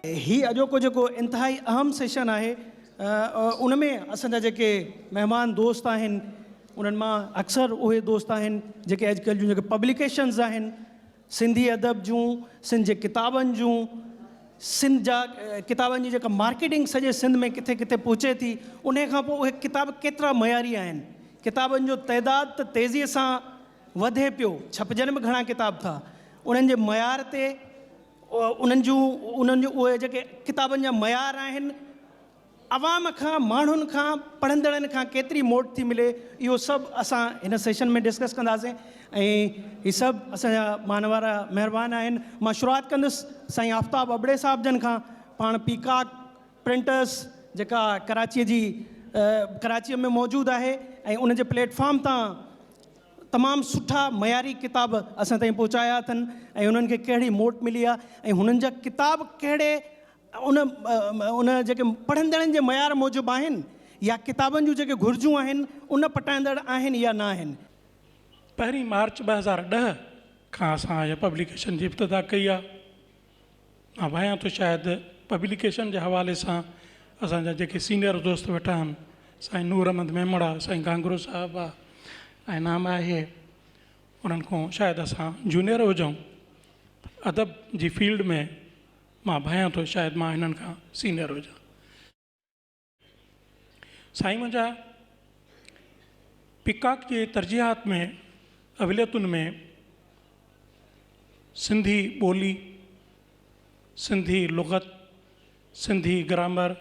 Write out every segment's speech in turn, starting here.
هي اڄوڪو جيڪو انتهائي اهم سيشن آهي ان ۾ اسان جا جيڪي مهمان دوست آهن انهن مان اڪثر اهي دوست آهن جيڪي اڄڪلهه جون جيڪي پبليڪيشنز آهن سنڌي ادب جون، سنڌ جي ڪتابن جون، سنڌ جا ڪتابن جي جيڪا مارڪيٽنگ سڄي سنڌ ۾ ڪٿي ڪٿي پهچي ٿي، انهيء کان پوء اهي ڪتاب ڪيترا معياري آهن؟ ڪتابن جو تعداد ته تيزيء سان وڌي پيو، ڇپجن به گهڻا ڪتاب ٿا. انهن جي معيار تي، انهن جون، انهن جون اهي جيڪي ڪتابن جا معيار آهن، عوام کان، ماڻهن کان، پڙهندڙن کان ڪيتري موٽ ٿي ملي اهو سڀ اسان هن سيشن ۾ ڊسڪس ڪنداسين ۽ هي سڀ اسان جا مان وارا مهربان آهن. مان شروعات ڪندس سائين آفتاب ابڙي صاحب جن کان، پاڻ پيڪاڪ پرنٽرس جيڪا ڪراچيء جي ڪراچيء ۾ موجود آهي ۽ ان جي پليٽ فارم تان تمام سٺا معياري ڪتاب اسان تائين پهچايا اٿن ۽ انهن کي ڪهڙي موٽ ملي آهي ۽ هنن جا ڪتاب ڪهڙي ان ان جيڪي پڙهندڙن جي معيار موجب آهن يا ڪتابن جون جيڪي گهرجون آهن ان پٽائيندڙ آهن يا ناهن. پهرين مارچ ٻه هزار ڏهه کان اسان هيء پبليڪيشن جي ابتدا ڪئي آهي. مان ڀانيان ٿو شايد پبليڪيشن جي حوالي سان اسان جا جيڪي سينيئر دوست ويٺا آهن سائين نور احمد ميمڻا، سائين گانگرو صاحب آ ۽ نام آهي انهن کان شايد اسان جونيئر هجون ادب جي فيلڊ ۾. مان ڀانيان ٿو شايد مان هنن کان سينئر هجان. سائين منهنجا پيڪاڪ جي ترجيحات ۾ اوليتن ۾ سنڌي ٻولي، سنڌي لغت، سنڌي گرامر،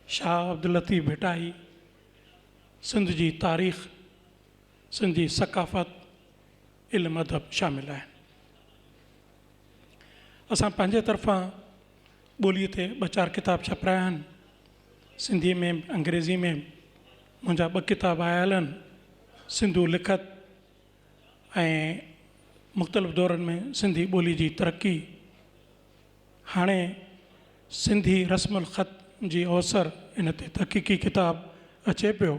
شاهه عبداللطيف ڀٽائي، سنڌ جي تاريخ، سنڌي ثقافت، علم ادب شامل آهن. اسان پنهنجي طرفان ٻوليء تي ٻه چار ڪتاب ڇپرايا آهن. سنڌيء ۾ انگريزيء ۾ منهنجا ٻه ڪتاب آيا آهن، سنڌو لکت ۽ مختلف دورن ۾ سنڌي ٻوليء جي ترقي. هاڻي سنڌي رسم الخط جي اوسر ان تي تحقيقي ڪتاب اچي پيو.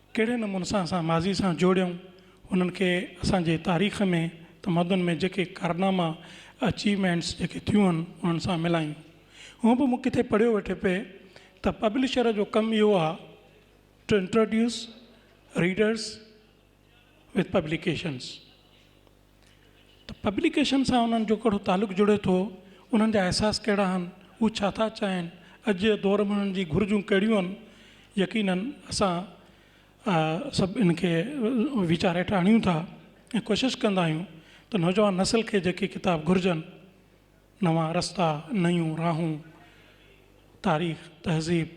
ڪهڙي نموني سان اسان ماضي سان جوڙيون انهن کي اسان جي تاريخ ۾ تمدن ۾ جيڪي ڪارناما اچيومينٽس جيڪي ٿيون آهن انهن سان ملايون هونء به مون ڪٿي پڙهيو ويٺي پئي ته پبلشر جو ڪم اهو آهي to introduce readers with publications ته پبليڪيشن سان انهن جو ڪهڙو تعلق جڙي ٿو، انهن جا احساس ڪهڙا آهن، هو ڇا ٿا چاهين، اڄ جي دور ۾ انهن جي گهرجون ڪهڙيون آهن، يقينن اسان سڀ ان کي ويچار هيٺ آڻيون ٿا ۽ ڪوشش ڪندا آهيون ته نوجوان نسل کي جيڪي ڪتاب گهرجن. نوان رستا، نيون راهون، تاريخ، تهذيب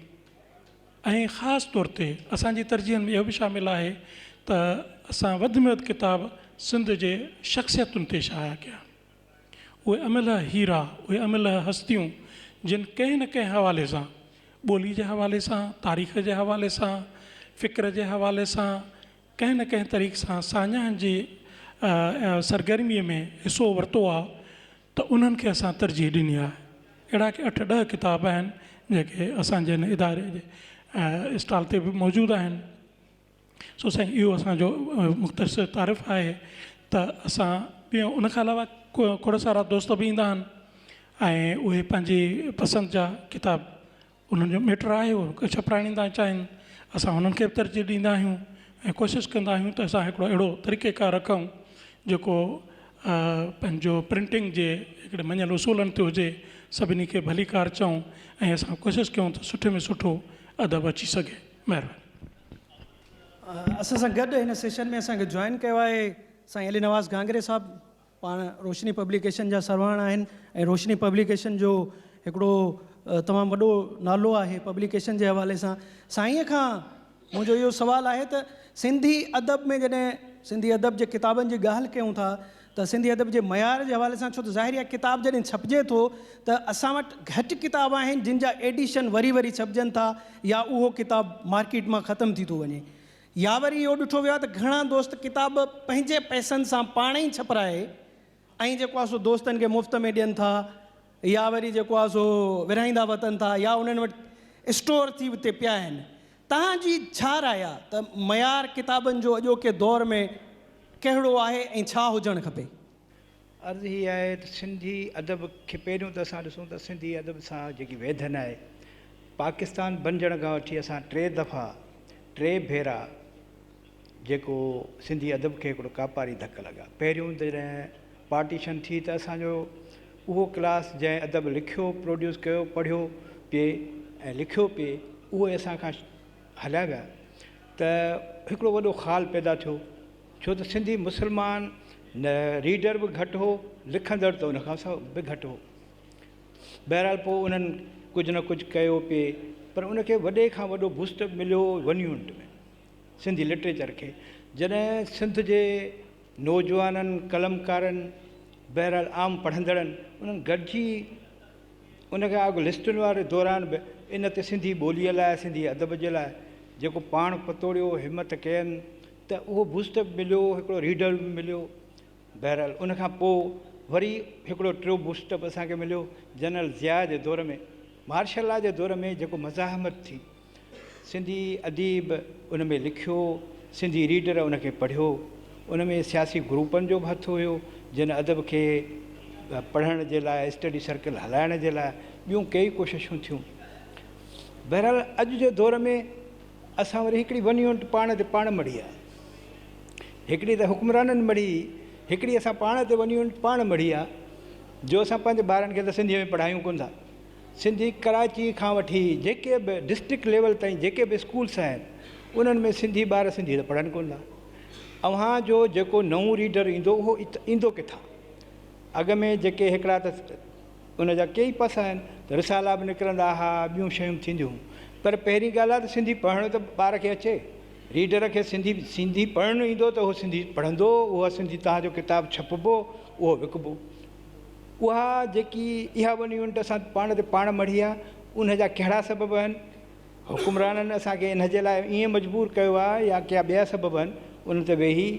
۽ خاص طور تي اسان جي ترجيحن ۾ اهو به شامل آهي ته اسان وڌ ۾ وڌ ڪتاب سنڌ جي شخصيتن تي شايع ڪيا. اهي املهه هيرا، اهي املهه هستيون جن ڪنهن نه ڪنهن حوالي سان، ٻولي جي حوالي سان، تاريخ جي حوالي سان، فڪر جي حوالي سان، ڪنهن نه ڪنهن طريق سان ساڃاهن جي سرگرميء ۾ حصو ورتو آهي ته انهن کي اسان ترجيح ڏني آهي. اهڙا ڪي اٺ ڏهه ڪتاب آهن جيڪي اسان جي هن اداري جي اسٽال تي به موجود آهن. سو سائين اهو اسان جو مختصر تعارف آهي ته اسان ٻيو ان کان علاوه کوڙ سارا دوست به ايندا آهن ۽ اهي پنهنجي پسند جا ڪتاب انهن جو ميٽر آهي اهو ڪو ڇپرائڻي ٿا چاهين اسان انهن کي ترجيح ڏيندا آهيون ۽ ڪوشش ڪندا آهيون ته اسان هڪڙو اهڙو طريقي ڪار رکون جيڪو پنهنجو پرنٽنگ جي هڪڙي مڃيل اصولن تي هجي سڀني کي ڀلي ڪار چئون ۽ اسان ڪوشش ڪيون ته سٺي ۾ سٺو ادب اچي سگهي مهرباني اسان سان گڏ هن سيشن ۾ اسان کي جوائن ڪيو آهي سائين علي نواز گهانگري صاحب پاڻ روشني پبليڪيشن جا سرواڻ آهن ۽ روشني پبليڪيشن جو هڪڙو تمام وڏو نالو آهي پبليڪيشن جي حوالي سان سائين کان منهنجو اهو سوال آهي ته سنڌي ادب ۾ جڏهن سنڌي ادب جي ڪتابن جي ڳالهه ڪيون ٿا ته سنڌي ادب جي معيار جي حوالي سان ڇو ته ظاهري آهي ڪتاب جڏهن ڇپجي ٿو ته اسان وٽ گهٽ ڪتاب آهن جن جا ايڊيشن وري وري ڇپجن ٿا يا اهو ڪتاب مارڪيٽ مان ختم ٿي ٿو وڃي يا وري اهو ڏٺو ويو آهي ته گهڻا دوست ڪتاب پنهنجي پئسن سان پاڻ ئي ڇپرائي ۽ جيڪو آهي سو دوستن کي مفت ۾ ڏين ٿا يا وري جيڪو آهي سو ورهائيندا وتن ٿا يا انهن وٽ اسٽور ٿي اتي پيا آهن. توهان جي ڇا راء آهي ته معيار ڪتابن جو اڄوڪي دور ۾ ڪهڙو آهي ۽ ڇا هجڻ کپي؟ عرض هي آهي ته سنڌي ادب کي پهريون ته اسان ڏسون ته سنڌي ادب سان جيڪي ويڌن آهي پاڪستان بنجڻ کان وٺي اسان ٽي دفعا ٽي ڀيرا جيڪو سنڌي ادب کي هڪڙو ڪاپاري ڌڪ لڳا پهريون جڏهن پارٽيشن ٿي ته اسانجو اهو ڪلاس جنهن ادب لکيو پروڊيوس ڪيو پڙهيو پي ۽ لکيو پي اهو اسان کان هليا ويا ته هڪڙو وڏو خال پيدا ٿيو ڇو ته سنڌي مسلمان نه ريڊر به گهٽ هو لکندڙ ته ان کان سواء به گهٽ هو. بهرحال پوء انهن ڪجهه نه ڪجهه ڪيو پي پر ان کي وڏي کان وڏو بوسٽ مليو ون يونٽ ۾ سنڌي لٽريچر کي جڏهن سنڌ جي نوجوانن قلمڪارن بهرحال عام پڙهندڙن انهن گڏجي ان کان اڳ لسٽن واري دوران به ان تي سنڌي ٻوليء لاء سنڌي ادب جي لاء جيڪو پاڻ پتوڙيو همت ڪين ته اهو بوسٽر به مليو، هڪڙو ريڊر به مليو، بهرحال ان کان پوء وري هڪڙو ٽيون بوسٽر به اسان کي مليو، جنرل ضياء جي دور ۾، مارشل لا جي دور ۾ جيڪو مزاحمت ٿي، سنڌي اديب ان ۾ لکيو، سنڌي ريڊر ان کي پڙهيو، ان ۾ سياسي گروپن جو به هٿ هيو، جن ادب کي پڙهڻ جي لاء اسٽڊي سرڪل هلائڻ جي لاء ٻيون ڪيئي ڪوششون ٿيون، بهرحال اڄ جي دور ۾. اسان وري هڪڙي ون يونٽ پاڻ تي پاڻ مڙهي آ هڪڙي ته حڪمرانن مڙهي هڪڙي اسان پاڻ تي ون يونٽ پاڻ مڙهي آ جو اسان پنهنجي ٻارن کي ته سنڌي ۾ پڙهايون ڪون ٿا سنڌي ڪراچي کان وٺي جيڪي به ڊسٽرڪٽ ليول تائين جيڪي به اسڪولس آهن انهن ۾ سنڌي ٻار سنڌي ته پڙهن ڪون ٿا اوهان جو جيڪو نئون ريڊر ايندو اهو ايندو ڪٿان اڳ ۾ جيڪي هڪڙا ته ان جا ڪيئي پس آهن ته رسالا به نڪرندا ها ٻيون شيون به ٿينديون هون پر پهرين ڳالهه آهي ته سنڌي پڙهڻ ته ٻار کي اچي ريڊر کي سنڌي سنڌي پڙهڻ ايندو ته هو سنڌي پڙهندو اها سنڌي توهان جو ڪتاب ڇپبو اهو وڪبو اها جيڪي اها ون يونٽ اسان پاڻ تي پاڻ مڙهي آهي ان جا ڪهڙا سبب آهن حڪمرانن اسان کي ان جي لاء ائين مجبور ڪيو آهي يا ڪيا ٻيا سبب آهن ان تي ويهي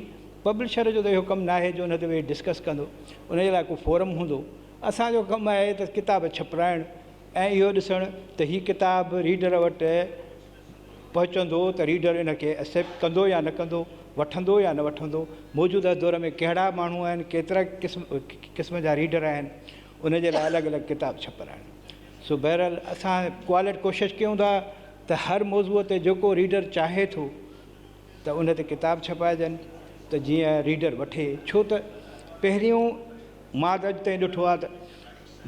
پبلشر جو ته اهو ڪم ناهي جو ان تي ويهي ڊسڪس ڪندو ان جي لاء ڪو فورم هوندو اسان جو ڪم آهي ته ڪتاب ڇپرائڻ ۽ اهو ڏسڻ ته هي ڪتاب ريڊر وٽ پهچندو ته ريڊر ان کي ايسيپٽ ڪندو يا نه ڪندو، وٺندو يا نه وٺندو، موجوده دور ۾ ڪهڙا ماڻهو آهن، ڪيترا قسم قسم جا ريڊر آهن، ان جي لاء الڳ الڳ ڪتاب ڇپرائڻ. سو بهرحال اسان ڪوالٽ ڪوشش ڪيون ٿا ته هر موضوع تي جيڪو ريڊر چاهي ٿو. ته ان تي ڪتاب ڇپائجن ته جيئن ريڊر وٺي ڇو ته پهريون مان ته اڄ تائين ڏٺو آهي ته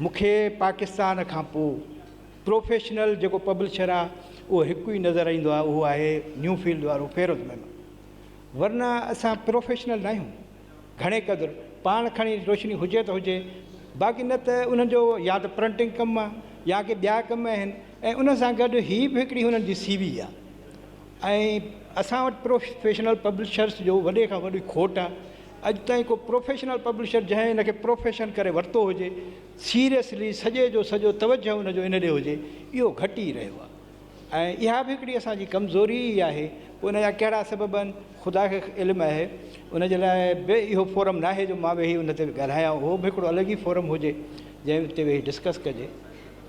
مون کي پاڪستان کان پوء پروفيشنل جيڪو پبلشر آهي اهو هڪ ئي نظر ايندو آهي اهو آهي نيو فيلڊ وارو فيروز ميمڻ ورنه اسان پروفيشنل نه آهيون گهڻي قدر پاڻ کڻي روشني هجي ته هجي باقي نه ته انهن جو يا ته پرنٽنگ ڪم آهي يا ڪي ٻيا ڪم آهن ۽ ان سان گڏ هي به هڪڙي هنن جي سي وي آهي ۽ اسان وٽ پروفيشنل پبلشرز جو وڏي کان وڏي کوٽ آ اڄ تائين ڪو پروفيشنل پبلشر جنهن ان کي پروفيشن ڪري ورتو هجي سيريسلي سڄي جو سڄو توجه ان جو ان ڏي هجي اهو گهٽ ئي رهيو آ ۽ اها به هڪڙي اسان جي ڪمزوري ئي آهي پوء ان جا ڪهڙا سبب آهن خدا کي علم آهي ان جي لاء به اهو فورم ناهي جو مان ويهي ان تي ڳالهايان اهو به هڪڙو الڳ ئي فورم هجي جنهن تي ويهي ڊسڪس ڪجي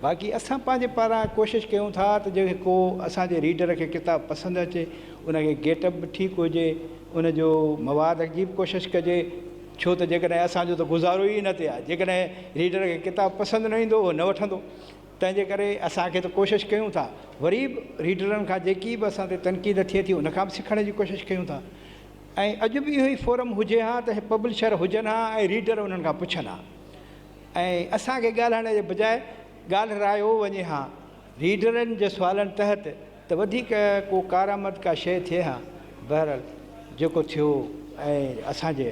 باقي اسان پنهنجي پاران ڪوشش ڪيون ٿا ته جيڪي ڪو اسان جي ريڊر کي ڪتاب پسند اچي ان کي گيٽ اپ به ٺيڪ هجي ان جو مواد جي به ڪوشش ڪجي ڇو ته جيڪڏهن اسان جو ته گذارو ئي ان تي آهي جيڪڏهن ريڊر کي ڪتاب پسند نه ايندو اهو نه وٺندو تنهنجي ڪري اسان کي ته ڪوشش ڪيون ٿا وري به ريڊرن کان جيڪي به اسان تي تنقيد ٿئي ٿي ان کان به سکڻ جي ڪوشش ڪيون ٿا ۽ اڄ به اهو ئي فورم هجي ها ته پبلشر هجن ها ۽ ريڊر انهن کان پڇن ها ۽ اسان کي ڳالهائڻ جي بجاء ڳالهرايو وڃي ها. ريڊرن جي سوالن تحت ته وڌيڪ ڪو ڪارآمد ڪا شيء ٿئي ها. بهرحال جيڪو ٿيو ۽ اسان جي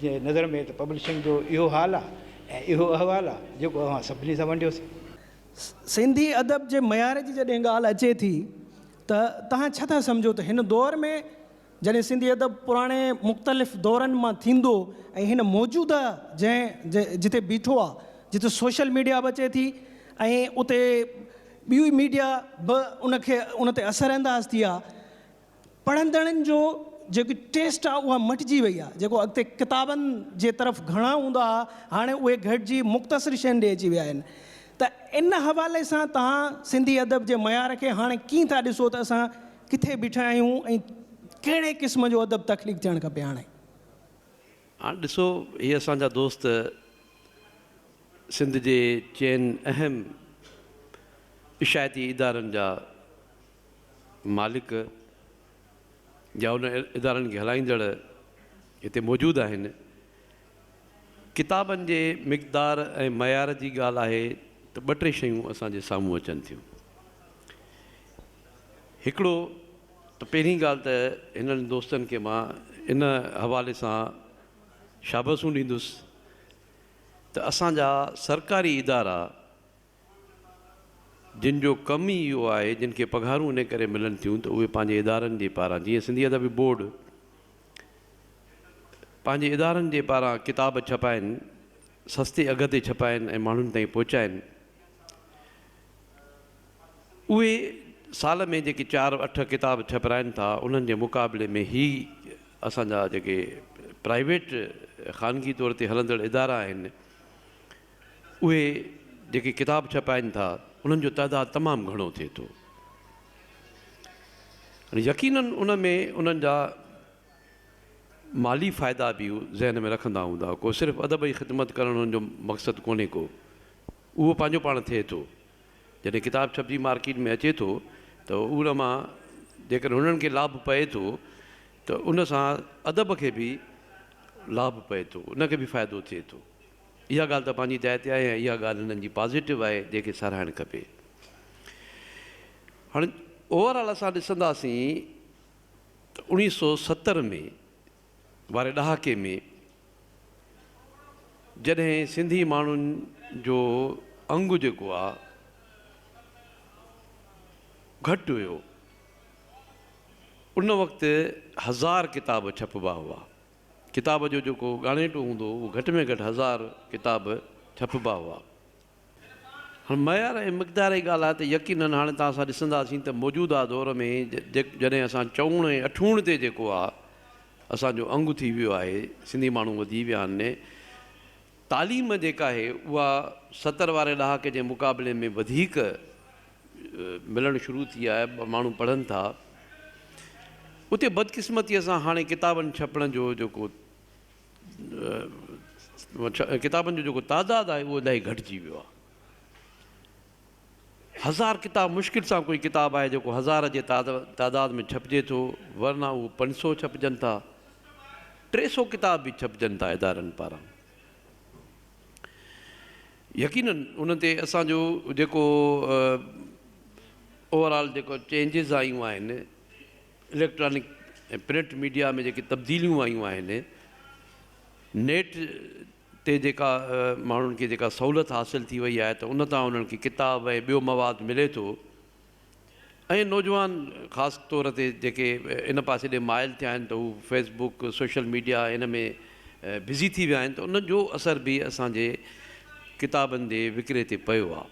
جي نظر ۾ ته پبلشنگ جو اهو حال آهي ۽ اهو احوال آهي جيڪو اوهان سڀني سان ونڊيوسين. سنڌي ادب جي معيار جي جڏهن ڳالهه اچي ٿي ته توهان ڇا ٿا سمجهو ته هن دور ۾ جڏهن سنڌي ادب پراڻي مختلف دورن مان ٿيندو ۽ هن موجوده جنهن جتي بيٺو آهي جتي سوشل ميڊيا به اچي ٿي ۽ اتي ٻيو ميڊيا به ان کي ان تي اثر انداز ٿي آهي پڙهندڙن جو جيڪي ٽيسٽ آهي اها مٽجي وئي آهي جيڪو اڳتي ڪتابن جي طرف گهڻا هوندا هئا هاڻي اهي گهٽجي مختصر شين ڏي اچي ويا آهن ته ان حوالي سان توهان سنڌي ادب جي معيار کي هاڻي ڪيئن ٿا ڏسو ته اسان ڪٿي بيٺا آهيون ۽ ڪهڙي قسم جو ادب تخليق ٿيڻ کپي هاڻي. هاڻي ڏسو هي اسان جا دوست سنڌ جي چئن اهم اشاعتي ادارن جا مالڪ يا ان ادارن کي هلائيندڙ هتي موجود آهن. ڪتابن جي مقدار ۽ معيار جي ڳالهه آهي ته ٻه ٽي شيون اسان جي سامهون اچن ٿيون. هڪڙو ته پهرين ڳالهه ته هنن دوستن کي مان ان حوالي سان شابسون ڏيندس ته اسان جا سرڪاري ادارا جن جو ڪم ئي اهو آهي جن کي پگهارون ان ڪري ملن ٿيون ته اهي پنهنجي ادارن جي پاران جيئن سنڌي ادبي بورڊ پنهنجي ادارن جي پاران ڪتاب ڇپائن سستي اگهه تي ڇپائن ۽ ماڻهن تائين پهچائن اهي سال ۾ جيڪي چار اٺ ڪتاب ڇپرائن ٿا انهن جي مقابلي ۾ هي اسان جا جيڪي پرائيويٽ خانگي طور تي هلندڙ ادارا آهن اهي جيڪي ڪتاب ڇپائن ٿا انهن جو تعداد تمام گهڻو ٿئي ٿو يقينن ان ۾ انهن جا مالي فائدا به ذهن ۾ رکندا هوندا ڪو صرف ادب جي خدمت ڪرڻ انهن جو مقصد ڪونهي ڪو اهو پنهنجو پاڻ ٿئي ٿو. جڏهن ڪتاب ڇپجي مارڪيٽ ۾ اچي ٿو ته ان مان جيڪڏهن هنن کي لاڀ پئي ٿو ته ان سان ادب کي به لاڀ پئي ٿو، ان کي به فائدو ٿئي ٿو. اها ڳالهه ته پنهنجي جاء تي آهي ۽ اها ڳالهه هنن جي پازيٽو آهي جنهن کي ساراهڻ کپي. هاڻ اوور آل اسان ڏسنداسين ته اوڻيهه سؤ ستر ۾ واري ڏهاڪي ۾ جڏهن سنڌي ماڻهن جو انگ جيڪو آ گهٽ هيو ان وقت هزار ڪتاب ڇپبا هئا ڪتاب جو جيڪو ڳاڻيٽو هوندو هو گهٽ ۾ گهٽ هزار ڪتاب ڇپبا هئا هاڻ معيار ۽ مقدار جي ڳالهه آهي ته يقينن هاڻي تان اسان ڏسنداسين ته موجوده دور ۾ جڏهن اسان چؤڻ ۽ اٺوڻ تي جيڪو آ اسان جو انگ ٿي ويو آهي سنڌي ماڻهو وڌي ويا آهن ني تعليم جيڪا آهي اها ستر واري ڏهاڪي جي مقابلي ۾ وڌيڪ ملڻ شروع ٿي آهي ماڻهو پڙهن ٿا اتي بدقسمتي سان هاڻي ڪتابن ڇپڻ جو جيڪو ڪتابن جو جيڪو تعداد آهي اهو الاهي گهٽجي ويو آهي. هزار ڪتاب مشڪل سان ڪوئي ڪتاب آهي جيڪو هزار جي تعداد ۾ ڇپجي ٿو ورنه اهو پنج سو ڇپجن ٿا ٽي سو ڪتاب به ڇپجن ٿا ادارن پاران يقينن ان تي اسانجو جيڪو اوور آل جيڪو چينجز آيون آهن اليڪٽرانڪ ۽ پرنٽ ميڊيا ۾ جيڪي تبديليون آيون آهن، نيٽ تي جيڪا ماڻهن کي جيڪا سهولت حاصل ٿي وئي آهي ته ان تان انهن کي ڪتاب ۽ ٻيو مواد ملي ٿو ۽ نوجوان خاص طور تي جيڪي ان پاسي ڏي مائل ٿيا آهن ته هو فيس بوڪ سوشل ميڊيا ان ۾ بزي ٿي ويا آهن ته ان جو اثر به اسان جي ڪتابن جي وڪري تي پيو آهي.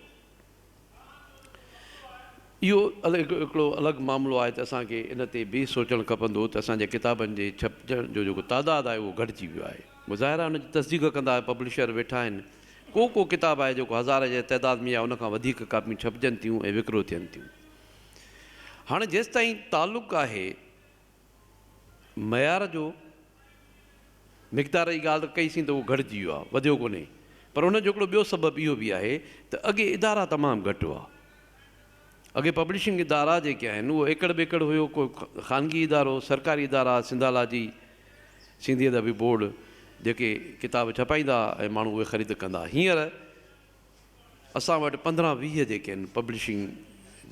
اهو هڪڙو الڳ معاملو آهي ته اسان کي ان تي به سوچڻ کپندو ته اسان جي ڪتابن جي ڇپجڻ جو جيڪو تعداد آهي اهو گهٽجي ويو آهي. مظاهره ان جي تصديق ڪندا ته پبلشر ويٺا آهن. ڪو ڪو ڪتاب آهي جيڪو هزار جي تعداد ۾ يا ان کان وڌيڪ ڪاپيون ڇپجن ٿيون ۽ وڪرو ٿين ٿيون. هاڻي جيستائين تعلق آهي معيار جو مقدار جي ڳالهه ته ڪئي سين ته اهو گهٽجي ويو آهي وڌيو ڪونهي پر ان جو هڪڙو ٻيو سبب اهو به آهي ته اڳي ادارا تمام گهٽ هئا اڳي پبلشنگ ادارا جيڪي آهن اهو ايڪڙ ٻيڪڙ هيو ڪو خانگي ادارو سرڪاري ادارا سنڌالاجي سنڌي ادبي بورڊ جيڪي ڪتاب ڇپائيندا ها ۽ ماڻهو اهي خريد ڪندا ها هينئر اسان وٽ پندرهن ويهه جيڪي آهن پبلشنگ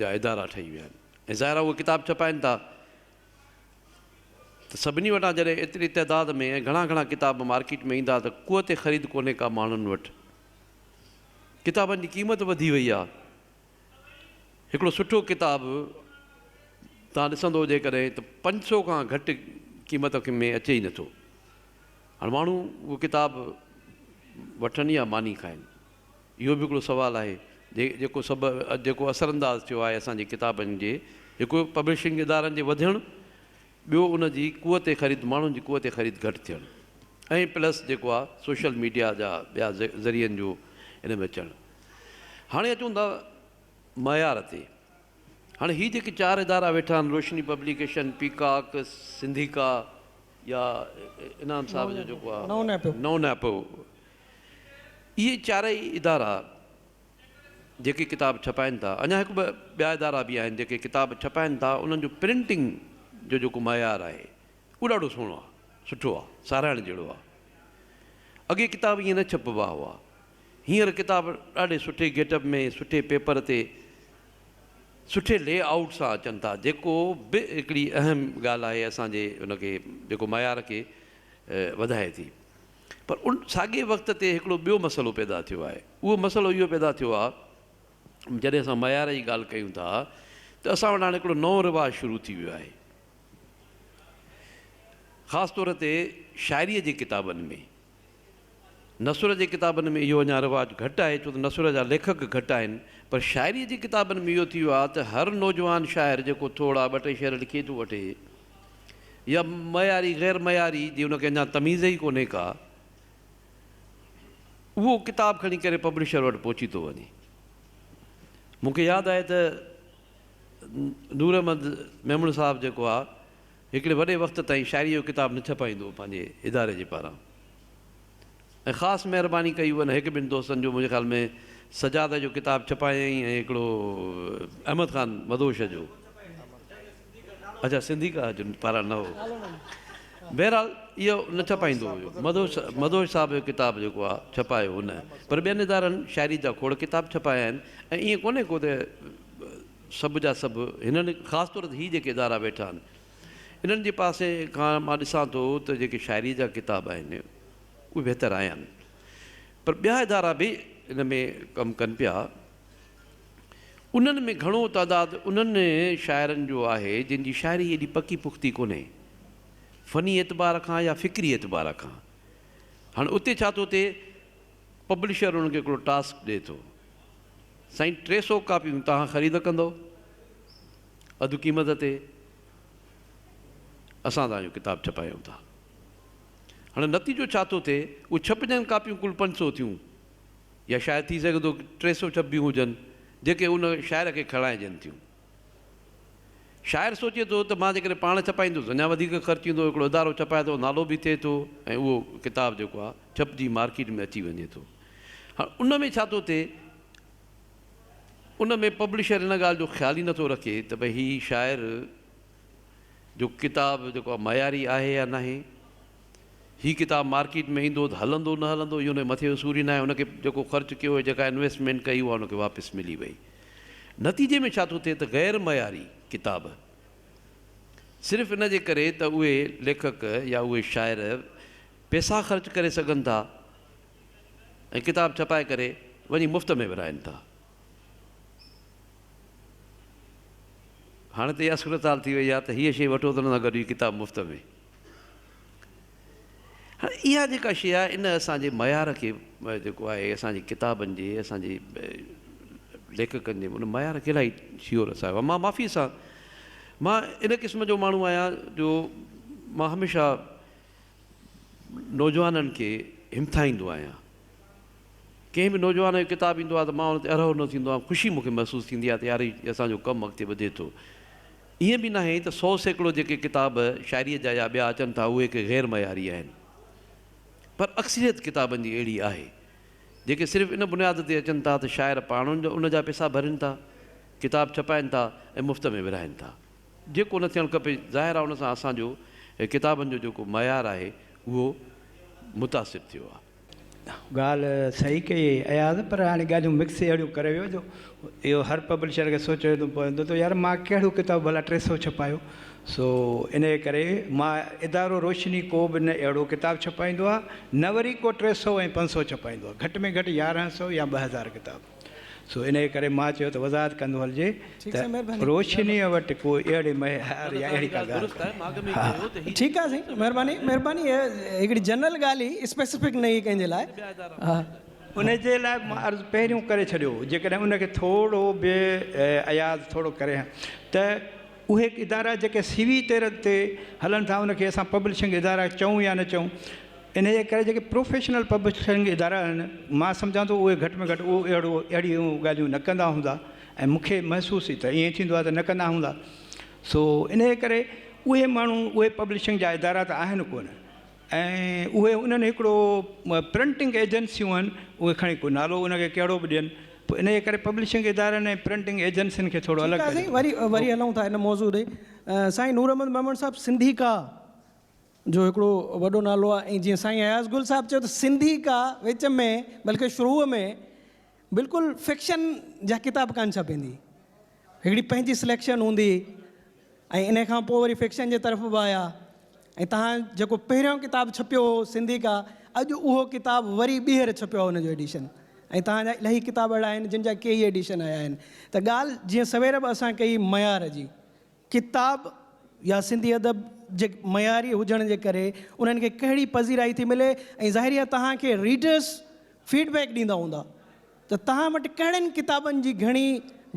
جا ادارا ٺهي ويا آهن ۽ ظاهر آهي اهي ڪتاب ڇپائين ٿا ته سڀني وٽان جڏهن ايتري تعداد ۾ ۽ گهڻا گهڻا ڪتاب مارڪيٽ ۾ ايندا ته قوت خريد ڪونهي ڪا ماڻهن وٽ ڪتابن جي قيمت وڌي وئي آهي هڪڙو سٺو ڪتاب تان ڏسندو جيڪڏهن ته پنج سو کان گهٽ قيمت ۾ اچي ئي نٿو هاڻ ماڻهو اهو ڪتاب وٺن يا ماني کائن اهو به هڪڙو سوال آهي جيڪو سڀ جيڪو اثر انداز ٿيو آهي اسان جي ڪتابن جي هڪ پبلشنگ ادارن جي وڌڻ ٻيو ان جي قوت خريد ماڻهن جي قوت خريد گهٽ ٿيڻ ۽ پلس جيڪو آهي سوشل ميڊيا جا ٻيا ذريعن جو ان ۾ اچڻ هاڻي اچون ٿا معيار تي هاڻي هي جيڪي چار ادارا ويٺا آهن روشني پبليڪيشن پيڪاڪ سنڌيڪا يا انعام صاحب جو جيڪو آ نئون نئپو اهي چارئي ادارا جيڪي ڪتاب ڇپائن ٿا اڃا هڪ ٻه ٻيا ادارا به آهن جيڪي ڪتاب ڇپائن ٿا انهن جو پرنٽنگ جو جيڪو معيار آهي اهو ڏاڍو سهڻو آ سٺو آ ساراهڻ جهڙو آ اڳي ڪتاب ائين نه ڇپبا هئا هينئر ڪتاب ڏاڍي سٺي گيٽ اپ ۾ سٺي پيپر تي سٺي لي آئوٽ سان اچن ٿا جيڪو به هڪڙي اهم ڳالهه آهي اسان جي ان کي جيڪو معيار کي وڌائي ٿي پر ان ساڳي وقت تي هڪڙو ٻيو مسئلو پيدا ٿيو آهي اهو مسئلو اهو پيدا ٿيو آهي جڏهن اسان معيار جي ڳالهه ڪيون ٿا ته اسان وٽ هاڻي هڪڙو نئون رواج شروع ٿي ويو آهي خاص طور تي شاعريء جي ڪتابن ۾ نثر جي ڪتابن ۾ اهو اڃا رواج گهٽ آهي ڇو ته نثر جا ليکڪ گهٽ آهن پر شاعريء جي ڪتابن ۾ اهو ٿي ويو آهي ته هر نوجوان شاعر جيڪو ٿورڙا ٻه ٽي شعر لکي ٿو وٺي يا معياري غير معياري جي ان کي اڃا تميز ئي ڪونهي ڪا اهو ڪتاب کڻي ڪري پبلشر وٽ پهچي ٿو وڃي مون کي ياد آهي ته نور احمد ميمڻ صاحب جيڪو آهي هڪڙي وڏي وقت تائين شاعريء جو ڪتاب نه ڇپائيندو هو پنهنجي اداري جي پاران ۽ خاص مهرباني ڪئي هئن هڪ ٻن دوستن جو منهنجي خيال ۾ سجاده جو ڪتاب ڇپايائين ۽ هڪڙو احمد خان مدهوش جو اچا سنڌي ڪا جو پاران نه هو بهرحال اهو نه ڇپائيندو هيو مدهوش مدهوش صاحب جو ڪتاب جيڪو آهي ڇپايو هن پر ٻين ادارن شاعري جا کوڙ ڪتاب ڇپايا آهن ۽ ائين ڪونهي ڪو ته سڀ جا سڀ هنن خاص طور تي هي جيڪي ادارا ويٺا آهن انهن جي پاسي کان مان ڏسان ٿو ته جيڪي شاعري جا ڪتاب آهن اهي بهتر آيا آهن پر ٻيا ادارا به ان ۾ ڪم ڪن پيا انهن ۾ گهڻو تعداد انهن شاعرن جو آهي جن جي شاعري ايڏي پڪي پختي ڪونهي فني اعتبار کان يا فڪري اعتبار کان هاڻي اتي ڇا ٿو ٿئي پبلشر انهن کي هڪڙو ٽاسڪ ڏئي ٿو. سائين ٽي سئو ڪاپيون توهان خريد ڪندؤ اڌ قيمت تي اسان توهان جو ڪتاب ڇپايون ٿا هاڻي نتيجو ڇا ٿو ٿئي اهو ڇپجن ڪاپيون ڪل پنج سئو ٿيون يا شايد ٿي سگهي ٿو ٽي سئو ڇپبيون هجن جيڪي ان شاعر کي کڻائجن ٿيون. شاعر سوچي ٿو ته مان جيڪڏهن پاڻ ڇپائيندس اڃا وڌيڪ خرچ ايندو، هڪڙو ادارو ڇپائي ٿو، نالو به ٿئي ٿو ۽ اهو ڪتاب جيڪو آهي ڇپجي مارڪيٽ ۾ اچي وڃي ٿو. هاڻ ان ۾ ڇا ٿو ٿئي؟ ان ۾ پبلشر ان ڳالهه جو خيال ئي نٿو رکي ته ڀئي هي شاعر جو ڪتاب جيڪو آهي معياري آهي يا ناهي. هي ڪتاب مارڪيٽ ۾ ايندو ته هلندو نه هلندو اهو انهي مٿي جو سور ئي ناهي. ان کي جيڪو خرچ ڪيو هيو جيڪا انويسٽمينٽ ڪئي اها ان کي واپس ملي وئي. نتيجي ۾ ڇا ٿو ٿئي ته غير معياري ڪتاب صرف ان جي ڪري ته اهي ليکڪ يا اهي شاعر پيسا خرچ ڪري سگهن ٿا ۽ ڪتاب ڇپائي ڪري وڃي مفت ۾ ورهائن ٿا. هاڻي ته اها صورتحال ٿي وئي آهي ته هيء شيء وٺو ته ان سان گڏ هي ڪتاب مفت ۾. هاڻي اها جيڪا شيء آهي ان اسان جي معيار کي جيڪو آهي اسان جي ڪتابن جي اسان جي ليکڪن جي ان معيار کي الاهي ڇيهو رسايو آهي. مان معافيء سان مان ان قسم جو ماڻهو آهيان جو مان هميشه نوجوانن کي همٿائيندو آهيان. ڪنهن به نوجوان جو ڪتاب ايندو آهي ته مان ان تي اروهو نه ٿيندو آهيان، خوشي مون کي محسوس ٿيندي آهي ته يار هي اسان جو ڪم اڳتي وڌي ٿو. ائين به ناهي ته سو سيڪڙو جيڪي ڪتاب شاعريء جا يا ٻيا اچن ٿا اهي ڪي غير معياري آهن پر اڪثريت ڪتابن جي اهڙي آهي جيڪي صرف ان بنياد تي اچن ٿا ته شاعر پاڻ ان جا پيسا ڀرين ٿا، ڪتاب ڇپائين ٿا ۽ مفت ۾ ورهائين ٿا. جيڪو نه ٿيڻ کپي، ظاهر آهي ان سان اسان جو ڪتابن جو جيڪو معيار آهي اهو متاثر ٿيو آهي. ڳالهه صحيح ڪئي اياز پر هاڻي ڳالهيون مڪس اهڙيون ڪري ويو جو اهو هر پبلشر کي سوچڻو پوندو ته يار مان ڪهڙو ڪتاب ڀلا ٽي سئو ڇپايو سو انهيء ڪري مان ادارو روشني ڪو به نه اهڙو ڪتاب ڇپائيندو آهي نه وري ڪو ٽي سئو ۽ پنج سئو ڇپائيندو آهي گهٽ ۾ گهٽ يارهن سئو يا ٻه هزار ڪتاب سو انهيء ڪري مان چيو ته وضاحت ڪندو هلجي ته روشنيء وٽ ڪو اهڙي مهيار يا اهڙي ڪا ڳالهه ڪونهي. ها. ٺيڪ آهي سائين مهرباني مهرباني هيء هڪڙي جنرل ڳالهه هئي اسپيسفڪ نه هئي ڪنهن جي لاء ها. ان جي لاء مان عرض پهريون ڪري ڇڏيو هو جيڪڏهن ان کي ٿورو به اياز ٿورو ڪري ها ته اهي ادارا جيڪي سي وي تيرن تي هلن ٿا ان کي اسان پبلشنگ ادارا چئون يا نه چئون انهيء ڪري جيڪي پروفيشنل پبلشنگ ادارا آهن، مان سمجهان ٿو اهي گهٽ ۾ گهٽ اهو اهڙو اهڙيون ڳالهيون نه ڪندا هوندا ۽ مون کي محسوس ئي ته ائين ٿيندو آهي ته نه ڪندا هوندا. سو انهيء ڪري اهي ماڻهو اهي پبلشنگ جا ادارا ته آهن ڪونه ۽ اهي انهن هڪڙو پرنٽنگ ايجنسيون آهن اهي کڻي ڪو نالو ان کي ڪهڙو به ڏين پوء انهيء ڪري پبلشنگ ادارن ۽ پرنٽنگ ايجنسين کي ٿورو الڳ ڪري ڏيو. ٺيڪ آهي سائين وري وري هلون ٿا ان موضوع ڏي. سائين نور احمد ميمڻ صاحب سنڌي ڪا جو هڪڙو وڏو نالو آهي ۽ جيئن سائين اياز گل صاحب چيو ته سنڌي ڪا وچ ۾ بلڪه شروع ۾ بلڪل فڪشن جا ڪتاب ڪانه ڇپيندي هڪڙي پنهنجي سليڪشن هوندي ۽ ان کان پوء وري فڪشن جي طرف به آيا ۽ تهان جيڪو پهريون ڪتاب ڇپيو هو سنڌي ڪا اڄ اهو ڪتاب وري ٻيهر ڇپيو آهي ان جو ايڊيشن ۽ تهان جا الائي ڪتاب اهڙا آهن جن جا ڪيئي ايڊيشن آيا آهن ته ڳالهه جيئن سوير به اسان ڪئي ميار جي ڪتاب يا سنڌي ادب جي معياري هجڻ جي ڪري انهن کي ڪهڙي پذيرائي ٿي ملي ۽ ظاهري آهي توهان کي ريڊرس فيڊ بيڪ ڏيندا هوندا ته توهان وٽ ڪهڙين ڪتابن جي گهڻي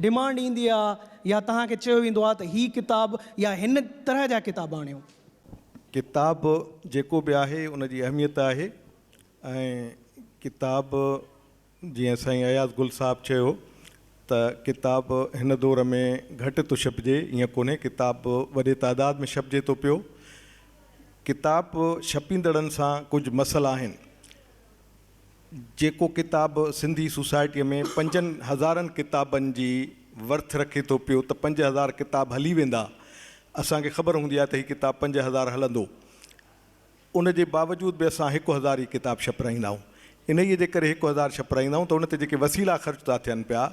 ڊمانڊ ايندي آهي يا توهان کي چيو ويندو آهي ته هي ڪتاب يا هن طرح جا ڪتاب آڻيو. ڪتاب جيڪو به آهي ان جي اهميت آهي ۽ ڪتاب جيئن سائين اياز گل صاحب چيو ته ڪتاب هن دور ۾ گهٽ ٿو ڇپجي ائين ڪونهي ڪتاب وڏي تعداد ۾ ڇپجي ٿو پيو ڪتاب ڇپيندڙن سان ڪجهه مسئلا آهن جيڪو ڪتاب سنڌي سوسائٽي ۾ پنجن هزارن ڪتابن جي ورٿ رکي ٿو پيو ته پنج هزار ڪتاب هلي ويندا اسان کي خبر هوندي آهي ته هي ڪتاب پنج هزار هلندو ان جي باوجود به اسان هڪ هزار ئي ڪتاب ڇپرائيندا آهيون. انهيء جي ڪري هڪ هزار ڇپرائيندا آهيون ته ان تي جيڪي وسيلا خرچ ٿا ٿين پيا،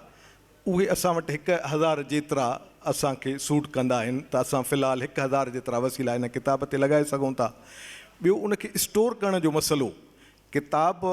اهي اسان وٽ هڪ هزار جيترا اسان کي سوٽ ڪندا آهن ته اسان في الحال هڪ هزار جيترا وسيلا ان ڪتاب تي لڳائي سگهون ٿا. ٻيو ان کي اسٽور ڪرڻ جو مسئلو ڪتاب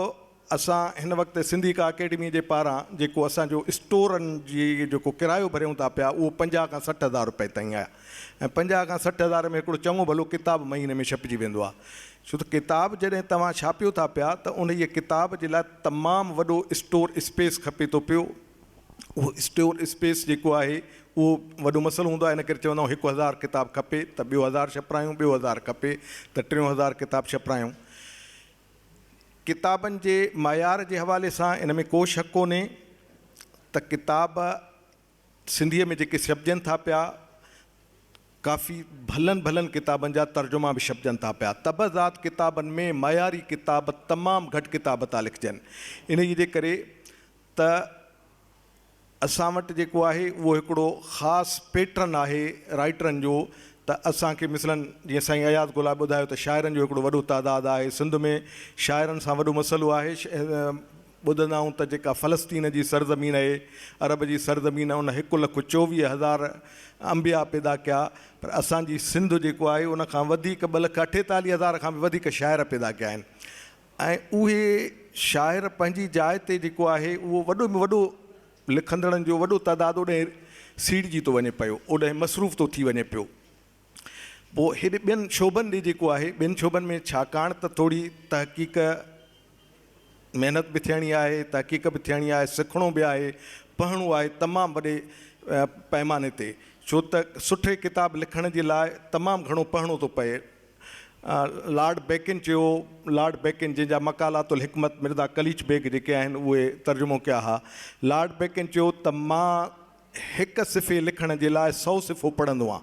اسان هن وقت سنڌي ڪا اڪيڊمي جي پاران جيڪو اسان جو اسٽورن جي جيڪو ڪرايو ڀريون ٿا پيا اهو پنجاهه کان سٺ هزار روپئي تائين آهي ۽ پنجاهه کان سٺ هزار ۾ هڪڙو چڱو ڀلو ڪتاب مهيني ۾ ڇپجي ويندو آهي ڇو ته ڪتاب جڏهن توهان ڇاپيو ٿا پيا ته انهيء ڪتاب جي لاء تمام وڏو اسٽور اسپيس کپي ٿو پيو اهو اسٽور اسپيس جيڪو آهي اهو وڏو مسئلو هوندو آهي ان ڪري چوندا آهيون هڪ هزار ڪتاب کپي ته ٻيو هزار ڇپرايون ٻيو هزار کپي ته ٽيون هزار ڪتاب ڇپرايون ڪتابن جي معيار جي حوالي سان ان ۾ ڪو شڪ ڪونهي ته ڪتاب سنڌيء ۾ جيڪي ڇپجن ٿا پيا ڪافي ڀلن ڀلن ڪتابن جا ترجما به ڇپجن ٿا پيا طبع زاد ڪتابن ۾ معياري ڪتاب تمام گهٽ ڪتاب ٿا لکجن انهيء جي ڪري ته اسان وٽ جيڪو آهي اهو هڪڙو خاص پيٽرن آهي رائيٽرن جو ته اسان کي مثلن جيئن سائين اياز گلاب ٻڌايو ته شاعرن جو هڪڙو وڏو تعداد آهي سنڌ ۾ شاعرن سان وڏو مسئلو آهي ٻڌندا آهون ته جيڪا فلسطين جي سرزمين اهي عرب جي سرزمين ان هڪ لک چوويهه هزار انبيا پيدا ڪيا پر اسان جي سنڌ جيڪو آهي ان کان وڌيڪ ٻه لک اٺيتاليهه هزار کان به وڌيڪ شاعر پيدا ڪيا آهن ۽ اهي شاعر پنهنجي جاء تي جيڪو آهي اهو وڏو ۾ وڏو لکندڙن جو وڏو تعداد اوڏانهن سيڙجي ٿو وڃي پيو، اوڏانهن مصروف ٿو ٿي وڃي پيو. پوء هيڏي ٻين شعبن ڏي جيڪو آهي، ٻين شعبن ۾ ڇاڪاڻ ته ٿوري تحقيق محنت به ٿيڻي آهي، تحقيق به ٿيڻي آهي، سکڻو به آهي، پڙهڻو آهي تمام وڏي پئماني تي، ڇو ته سٺي ڪتاب لکڻ جي لاء تمام گهڻو پڙهڻو ٿو پئي. لارڊ بيڪن چيو، لارڊ بيڪن جنهن جا مقالات الحڪمت مرزا قليچ بيگ جيڪي آهن اهي ترجمو ڪيا ها. لارڊ بيڪن چيو ته مان هڪ صفحي لکڻ جي لاء سؤ صفحو پڙهندو هان.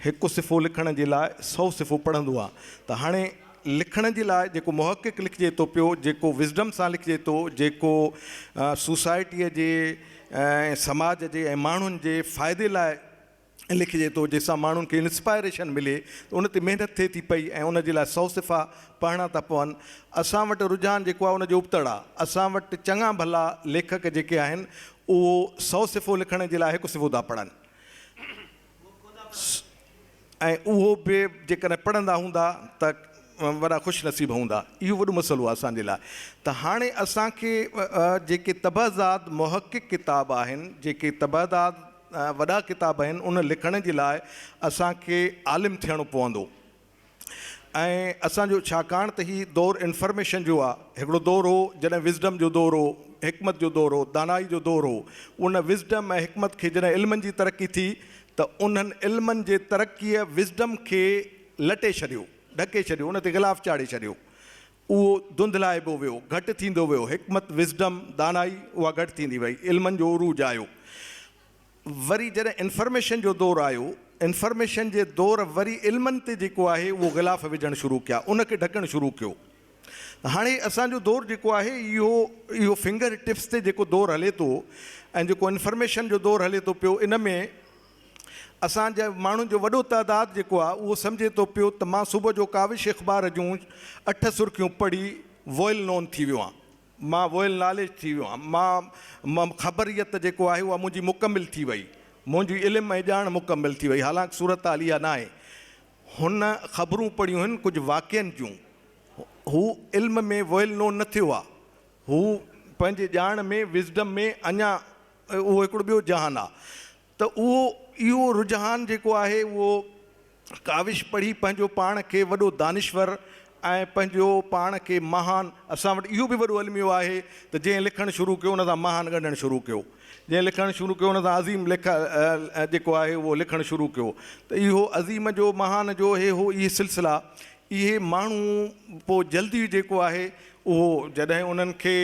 هڪ صفحو لکڻ جي لاء سؤ صفحو پڙهندو هان ته هاڻي لکڻ جي لاء جيڪو محقق لکجي ٿو پيو، جيڪو وزڊم سان لکجي ٿو، جيڪو سوسائٽيء جي ۽ سماج جي ۽ ماڻهن جي فائدي لاء لکجي ٿو جنهن سان ماڻهن کي انسپائريشن ملي ته ان تي محنت ٿئي ٿي پئي ۽ ان جي لاء سؤ صفحا پڙهڻا ٿا پون. اسان وٽ رجحان جيڪو آهي ان جو ابتڙ آهي. اسان وٽ چڱا ڀلا ليکڪ جيڪي آهن اهو سؤ صفحو لکڻ جي لاء هڪ صفحو ٿا پڙهن ۽ اهو به جيڪڏهن پڙهندا هوندا ته وڏا خوش نصيب هوندا. اهو وڏو مسئلو آهي اسان جي لاء ته هاڻي اسان کي جيڪي طبع زاد محقق ڪتاب آهن جيڪي طبع زاد وڏا ڪتاب آهن ان لکڻ جي لاء اسان کي عالم ٿيڻو پوندو ۽ اسان جو ڇاڪاڻ ته هي دور انفرميشن جو آ هڪڙو دور هو جڏهن وزڊم جو دور هو حڪمت جو دور هو دانائي جو دور هو ان وزڊم ۽ حڪمت کي جڏهن علمن جي ترقي ٿي ته انهن علمن جي ترقيء وزڊم کي لٽي ڇڏيو ڍڪي ڇڏيو ان تي غلاف چاڙهي ڇڏيو اهو ڌنڌلائبو ويو، گهٽ ٿيندو ويو، حڪمت، Wisdom، دانائي، اها گهٽ ٿيندي وئي، علمن جو عروج آيو. وري جڏهن انفرميشن جو دور آيو، انفرميشن جي دور وري علمن تي جيڪو آهي اهو غلاف وجهڻ شروع ڪيا، ان کي ڍڪڻ شروع ڪيو. هاڻي اسان جو دور جيڪو آهي اهو اهو فنگر ٽپس تي جيڪو دور هلي ٿو ۽ جيڪو انفرميشن جو دور هلي ٿو پيو ان ۾ اسان جي ماڻهن جو وڏو تعداد جيڪو آهي اهو سمجهي ٿو پيو ته مان صبح جو ڪاوش اخبار جون اٺ سرخيون پڙهي ويل نون ٿي ويو آهيان. مان ويل ناليج ٿي ويو آهيان. مان خبريت جيڪو آهي اها منهنجي مڪمل ٿي وئي. منهنجي علم ۽ ڄاڻ مڪمل ٿي وئي. حالانڪ صورتحال اها ناهي. هن خبرون پڙهيون هن ڪجهه واقعن جون. هو علم ۾ ويل نون نه ٿيو آهي. هو پنهنجي ڄاڻ ۾ Wisdom ۾ اڃا اهو هڪڙو ٻيو جهان آ ته اهو اهو رجحان جيڪو آهي اهو ڪاوش پڙهي پنهنجو پاڻ کي وڏو دانشور ۽ پنهنجو پاڻ کي مهان اسان وٽ اهو به وڏو الميو آهي ته جنهن لکڻ شروع ڪيو ان سان مهان ڳنڍڻ شروع ڪيو جنهن لکڻ شروع ڪيو ان سان عظيم لک جيڪو آهي اهو لکڻ شروع ڪيو ته اهو عظيم جو مهان جو هي هو اهي سلسلا اهي ماڻهو پوء جلدي جيڪو آهي اهو جڏهن انهن کي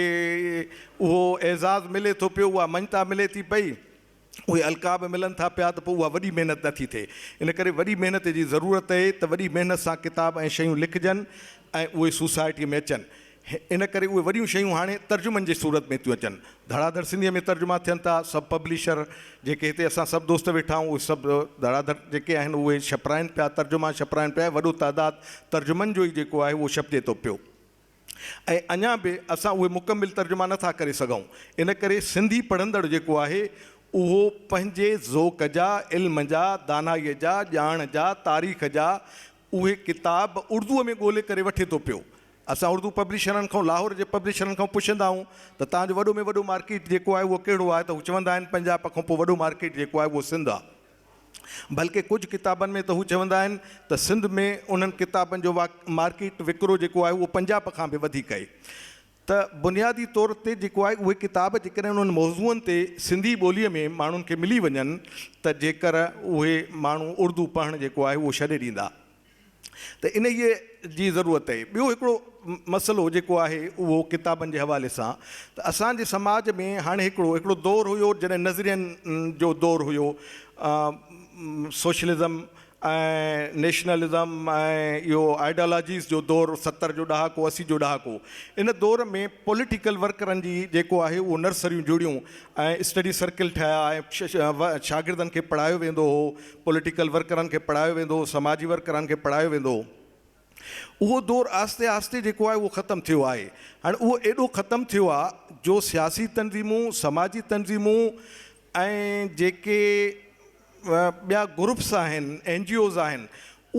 اهو اعزاز ملي ٿو پيو، اها مڃتا ملي ٿي پئي، اهي القاب ملن ٿا پيا ته پوء اها وڏي محنت نه ٿي ٿئي. ان ڪري وڏي محنت جي ضرورت اهي ته وڏي محنت سان ڪتاب ۽ شيون لکجن ۽ اهي سوسائٽيء ۾ اچن. ان ڪري اهي وڏيون شيون هاڻي ترجمن جي صورت ۾ ٿيون اچن. ڌڙا ڌڙ سنڌيء ۾ ترجما ٿين ٿا. سڀ پبلشر جيڪي هتي اسان سڀ دوست ويٺا آهيون، اهي سڀ ڌڙا ڌڙ جيڪي آهن اهي ڇپرائين پيا، ترجما ڇپرائين پيا ۽ وڏو تعداد ترجمن جو ئي جيڪو آهي اهو ڇپجي ٿو پيو ۽ اڃا به اسان اهي مڪمل ترجما نه ٿا ڪري سگهون. ان ڪري سنڌي پڙهندڙ جيڪو آهي اهو پنهنجي ذوق جا، علم جا، دانائيء جا، ڄاڻ جا، تاريخ جا، اهي ڪتاب اردوء ۾ ڳولي ڪري وٺي ٿو پيو. اسان اردو پبلشرن کان لاهور جي پبلشرن کان پڇندا آهيون ته توهان جو وڏو ۾ وڏو مارڪيٽ جيڪو آهي اهو ڪهڙو آهي ته هو چوندا آهن پنجاب کان پوء وڏو مارڪيٽ جيڪو آهي اهو سنڌ آهي. بلڪه ڪجهه ڪتابن ۾ ته هو چوندا آهن ته سنڌ ۾ انهن ڪتابن جو مارڪيٽ وڪرو جيڪو آهي اهو پنجاب کان به وڌيڪ اهي. ته بنيادي طور تي جيڪو آهي اهي ڪتاب جيڪڏهن انهن موضوعن تي سنڌي ٻوليء ۾ ماڻهن کي ملي وڃن ته جيڪر اهي ماڻهو اردو پڙهڻ جيڪو آهي اهو ڇڏي ڏيندا ته انهيء جي ضرورت اهي. ٻيو هڪڙو مسئلو جيڪو آهي اهو ڪتابن جي حوالي سان ته اسان جي سماج ۾ هاڻي هڪڙو هڪڙو دور هيو جڏهن نظرين جو دور هيو سوشلزم ۽ نيشنلزم ۽ اهو آئيڊالاجيز جو دور ستر جو ڏهاڪو اسي جو ڏهاڪو ان دور ۾ پوليٽيڪل ورڪرن جي جيڪو آهي اهو نرسريون جڙيون ۽ اسٽڊي سرڪل ٺهيا ۽ شاگردن کي پڙهايو ويندو هو پوليٽيڪل ورڪرن کي پڙهايو ويندو هو سماجي ورڪرن کي پڙهايو ويندو هو اهو دور آهستي آهستي جيڪو آهي اهو ختم ٿيو آهي هاڻي اهو ايڏو ختم ٿيو آهي جو سياسي تنظيمون سماجي تنظيمون ۽ جيڪي ٻيا گروپس آهن اين جي اوز آهن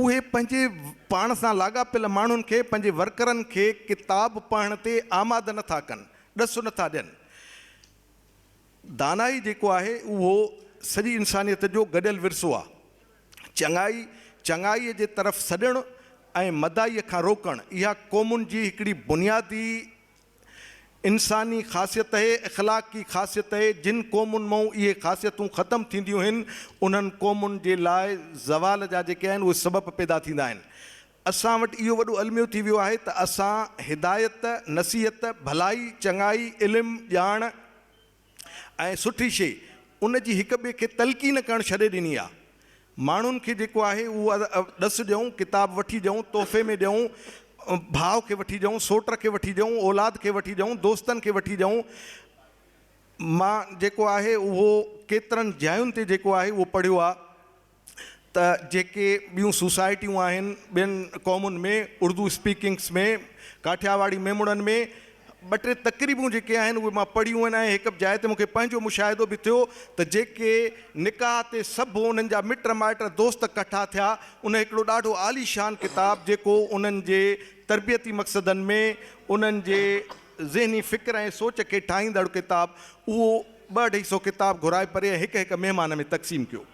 اهي پنهنجي پاڻ سان لاڳاپيل ماڻهن کي پنهنجي ورڪرن کي ڪتاب پڙهڻ تي آماده نه ٿا ڪن ڏس نه ٿا ڏين دانائي جيڪو آهي اهو سڄي انسانيت جو گڏيل ورثو آهي چڱائي چڱائي جي طرف سڏڻ ۽ مدائي کان روڪڻ اها قومن جي هڪڙي بنيادي انساني خاصيت اھي اخلاقي خاصيت اھي جن قومن مئون اھي خاصيتون ختم ٿينديون ھين انھن قومن جي لاء زوال جا جيڪي آھن اھي سبب پيدا ٿيندا ھين اسان وٽ اھو وڏو الميو ٿي ويو آھي ته اسان ھدايت نصيحت ڀلائي چڱائي علم ڄاڻ ۽ سٺي شي ان جي هڪ ٻئي کي تلقين ڪرڻ ڇڏي ڏني آ. ماڻهن کي جيڪو آهي اهو ڏس ڏيئون، ڪتاب وٺي ڏيئون، تحفي ۾ ڏيئون، ڀاء کي وٺي ڏيئون، سوٽ کي وٺي ڏيئون، اولاد کي وٺي ڏيئون، دوستن کي وٺي ڏيئون. مان جيڪو آهي اهو ڪيترن جاين تي جيڪو آهي اهو پڙهيو آ. ته جيڪي ٻيون سوسائٽيون آهن ٻين قومن ۾ اردو اسپيڪنگس ۾ ڪاٺياواڙي ميمڻن ۾ ٻه ٽي تقريبون جيڪي آهن اهي مان پڙهيون آهن ۽ هڪ جاء تي مونکي پنهنجو مشاهدو به ٿيو ته جيڪي نڪاح تي سڀ انهن جا مٽ مائٽ دوست ڪٺا ٿيا ان هڪڙو ڏاڍو عالي شان ڪتاب جيڪو انهن جي تربيتي مقصدن ۾ انهن جي ذهني فڪر ۽ سوچ کي ٺاهيندڙ ڪتاب اهو ٻه اڍائي سو ڪتاب گهرائي پري ۽ هڪ هڪ مهمان ۾ تقسيم ڪيو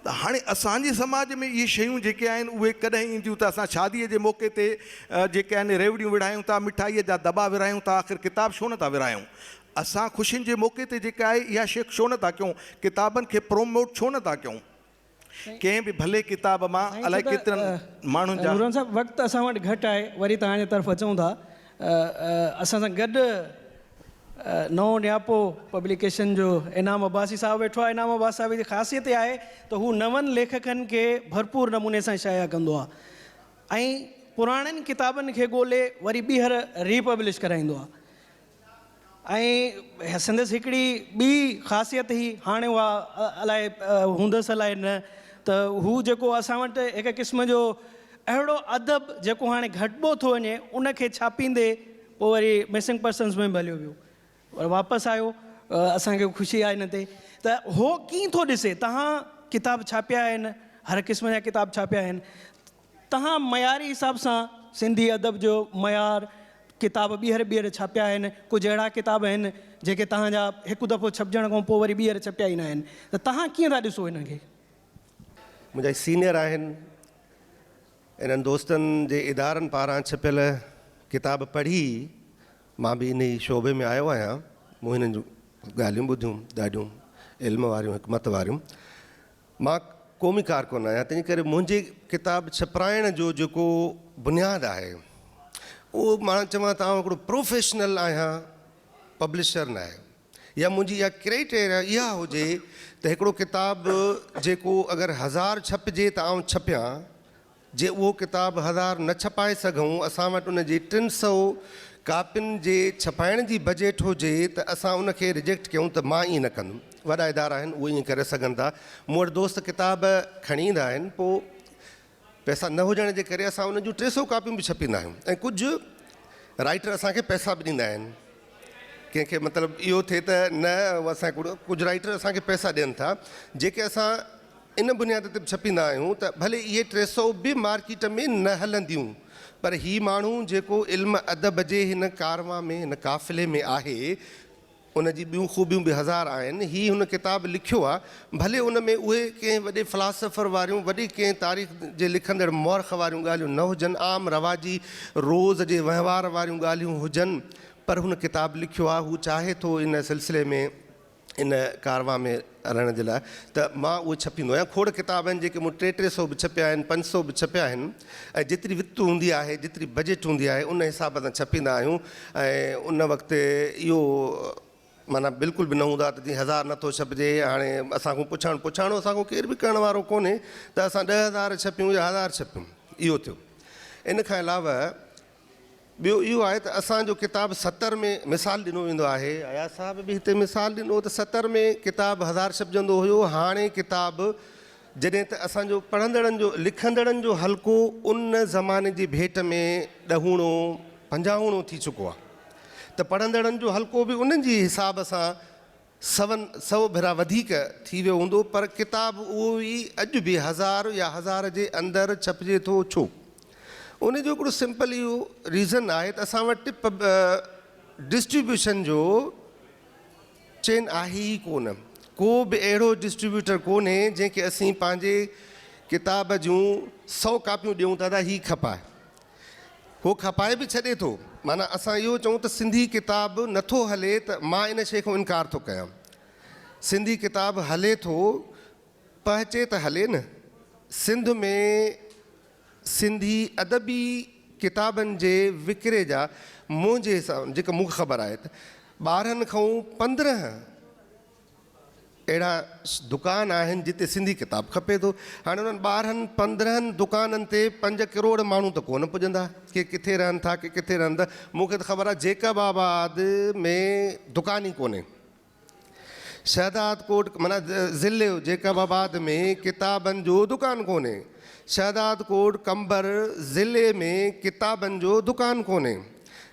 ته هاڻي اسان جي سماج ۾ اهي شيون جيڪي آهن اهي ڪڏهن اينديون ته اسان شاديء جي موقعي تي جيڪي آهن ريوڙيون وڙهايون ٿا مٺائيء جا دٻا ورهايون ٿا آخر ڪتاب ڇو نه ٿا ورهايون اسان خوشين جي موقعي تي جيڪا آهي اها شي ڇو نه ٿا ڪيون ڪتابن کي پروموٽ ڇو نه ٿا ڪيون ڪنهن به ڀلي ڪتاب مان الائي ڪيترن ماڻهن جا نوران صاحب وقت اسان وٽ گهٽ آهي وري توهان جي طرف اچون ٿا اسان سان گڏ نئون نياپو پبليڪيشن جو انعام عباسي صاحب ويٺو آهي. انعام عباسي صاحب جي خاصيت اها آهي ته هو نون ليکڪن کي ڀرپور نموني سان شايع ڪندو آهي ۽ پراڻين ڪتابن کي ڳولي وري ٻيهر ري پبلش ڪرائيندو آهي. ۽ سندس هڪڙي ٻي خاصيت هئي هاڻي اها الاء هوندس الاء نه ته هو جيڪو اسان وٽ هڪ قسم جو اهڙو ادب جيڪو هاڻي گهٽبو ٿو وڃي ان کي ڇاپيندي پوء وري مسنگ پرسنز ۾ به هليو ويو وري واپس آيو اسان کي خوشي آهي ان تي ته هو ڪيئن ٿو ڏسي تهان ڪتاب ڇاپيا آهن هر قسم جا ڪتاب ڇاپيا آهن تهان معياري حساب سان سنڌي ادب جو معيار ڪتاب ٻيهر ٻيهر ڇاپيا آهن ڪجهه اهڙا ڪتاب آهن جيڪي تهان جا هڪ دفعو ڇپجڻ کان پوء وري ٻيهر ڇپيا ئي نه آهن ته تهان ڪيئن ٿا ڏسو هنن کي؟ منهنجا هي سينئر آهن انهن دوستن جي ادارن پاران ڇپيل ڪتاب پڙهي مان به انهي شعبي ۾ آيو آهيان مون هنن جون ڳالهيون ٻڌيون ڏاڍيون علم واريون حڪمت واريون مان قومي ڪارڪن آهيان تنهنجي ڪري منهنجي ڪتاب ڇپرائڻ جو جيڪو بنياد آهي اهو مان چوان ته آئون هڪڙو پروفيشنل آهيان پبلشر نه آهي يا منهنجي اها ڪريٽيريا اها هجي ته هڪڙو ڪتاب جيڪو اگر هزار ڇپجي ته آئون ڇپيان جي اهو ڪتاب هزار نه ڇپائي سگهون، اسان وٽ ان جي ٽن سئو ڪاپين جي ڇپائڻ جي بجيٽ هجي ته اسان ان کي رجيڪٽ ڪيون ته مان ائين نه ڪندم. وڏا ادارا آهن اهي ائين ڪري سگهن ٿا. مون وٽ دوست ڪتاب کڻي ايندا آهن پوء پئسا نه هجڻ جي ڪري اسان ان جون ٽي سئو ڪاپيون به ڇپيندا آهيون ۽ ڪجهه رائيٽر اسان کي پئسا به ڏيندا آهن. ڪنهن کي مطلب اهو ٿئي ته نه اسان ڪجهه رائيٽر اسان کي پئسا ڏين ٿا جيڪي اسان ان بنياد تي به ڇپيندا آهيون ته ڀلي اهي ٽي سؤ به مارڪيٽ ۾ نه هلنديون پر هي ماڻهو جيڪو علم ادب جي هن ڪاروان ۾ هن قافلي ۾ آهي ان جي ٻيون خوبيون به هزار آهن هي هن ڪتاب لکيو آهي ڀلي ان ۾ اهي ڪنهن وڏي فلاسافر واريون وڏي ڪنهن تاريخ جي لکندڙ مؤرخ واريون ڳالهيون نه هجن عام رواجي روز جي وهنوار واريون ڳالهيون هجن پر هن ڪتاب لکيو آهي هو چاهي ٿو ان سلسلي ۾ ان ڪارواء ۾ رهڻ جي لاء ته مان اهو ڇپيندو آهيان. کوڙ ڪتاب آهن جيڪي مون ٽي ٽي سئو به ڇپيا آهن، پنج سئو به ڇپيا آهن ۽ جيتري وت هوندي آهي، جيتري بجيٽ هوندي آهي ان حساب سان ڇپيندا آهيون ۽ ان وقت اهو معنيٰ بلڪل به نه هوندو آهي ته جي هزار نه ٿو ڇپجي هاڻي اسان کان پڇاڻ پڇاڻو اسان کان ڪير به ڪرڻ وارو ڪونهي ته اسان ڏهه هزار ڇپيون يا هزار ڇپيون اهو ٿيو. ان کان علاوه ٻيو اهو آهي ته اسان جو ڪتاب ستر ۾ مثال ڏنو ويندو آهي، اياز صاحب به هتي مثال ڏنو ته ستر ۾ ڪتاب هزار ڇپجندو هيو، هاڻي ڪتاب جڏهن ته اسان جو پڙهندڙن جو لکندڙن جو حلقو ان زماني جي ڀيٽ ۾ ڏهوڻو پنجاهوڻو ٿي چڪو آهي ته پڙهندڙن جو حلقو به ان جي حساب سان سون سؤ ڀيرا وڌيڪ ٿي ويو هوندو پر ڪتاب اهو ئي اڄ به هزار يا هزار جي اندر ڇپجي ٿو ڇو؟ ان جو هڪڙو سمپل اهو ريزن آهي ته اسان وٽ ڊسٽريبيوشن جو چين آهي ئي ڪونه ڪو به اهڙو ڊسٽريبيوٽر ڪونهي جنهن کي اسين پنهنجي ڪتاب جون سؤ ڪاپيون ڏيون ته ادا هي کپاء هو کپائي به ڇڏي ٿو. معنيٰ اسان اهو چئون ته سنڌي ڪتاب نه ٿو هلي ته مان ان شيء کان انڪار ٿو ڪيان. سنڌي ڪتاب هلي ٿو، پهچي ته هلي نه. سنڌ ۾ سنڌي ادبي ڪتابن جي وڪري جا منهنجي حساب جيڪا مون کي خبر آهي ته ٻارهن کئون پندرهن اهڙا دڪان آهن جتي سنڌي ڪتاب کپي ٿو. هاڻي انهن ٻارهن پندرهن دڪانن تي پنج ڪروڙ ماڻهو ته ڪونه پڄندا. ڪي ڪٿي رهن ٿا ڪي ڪٿي رهن ٿا. مون کي ته خبر آهي جيڪب آباد ۾ دڪان ئي ڪونهي. شهدادڪوٽ معنيٰ ضلعي جيڪب آباد ۾ ڪتابن جو دڪان ڪونهي. شهدادڪوٽ قمبر ضلعي ۾ ڪتابن جو دڪان ڪونهي.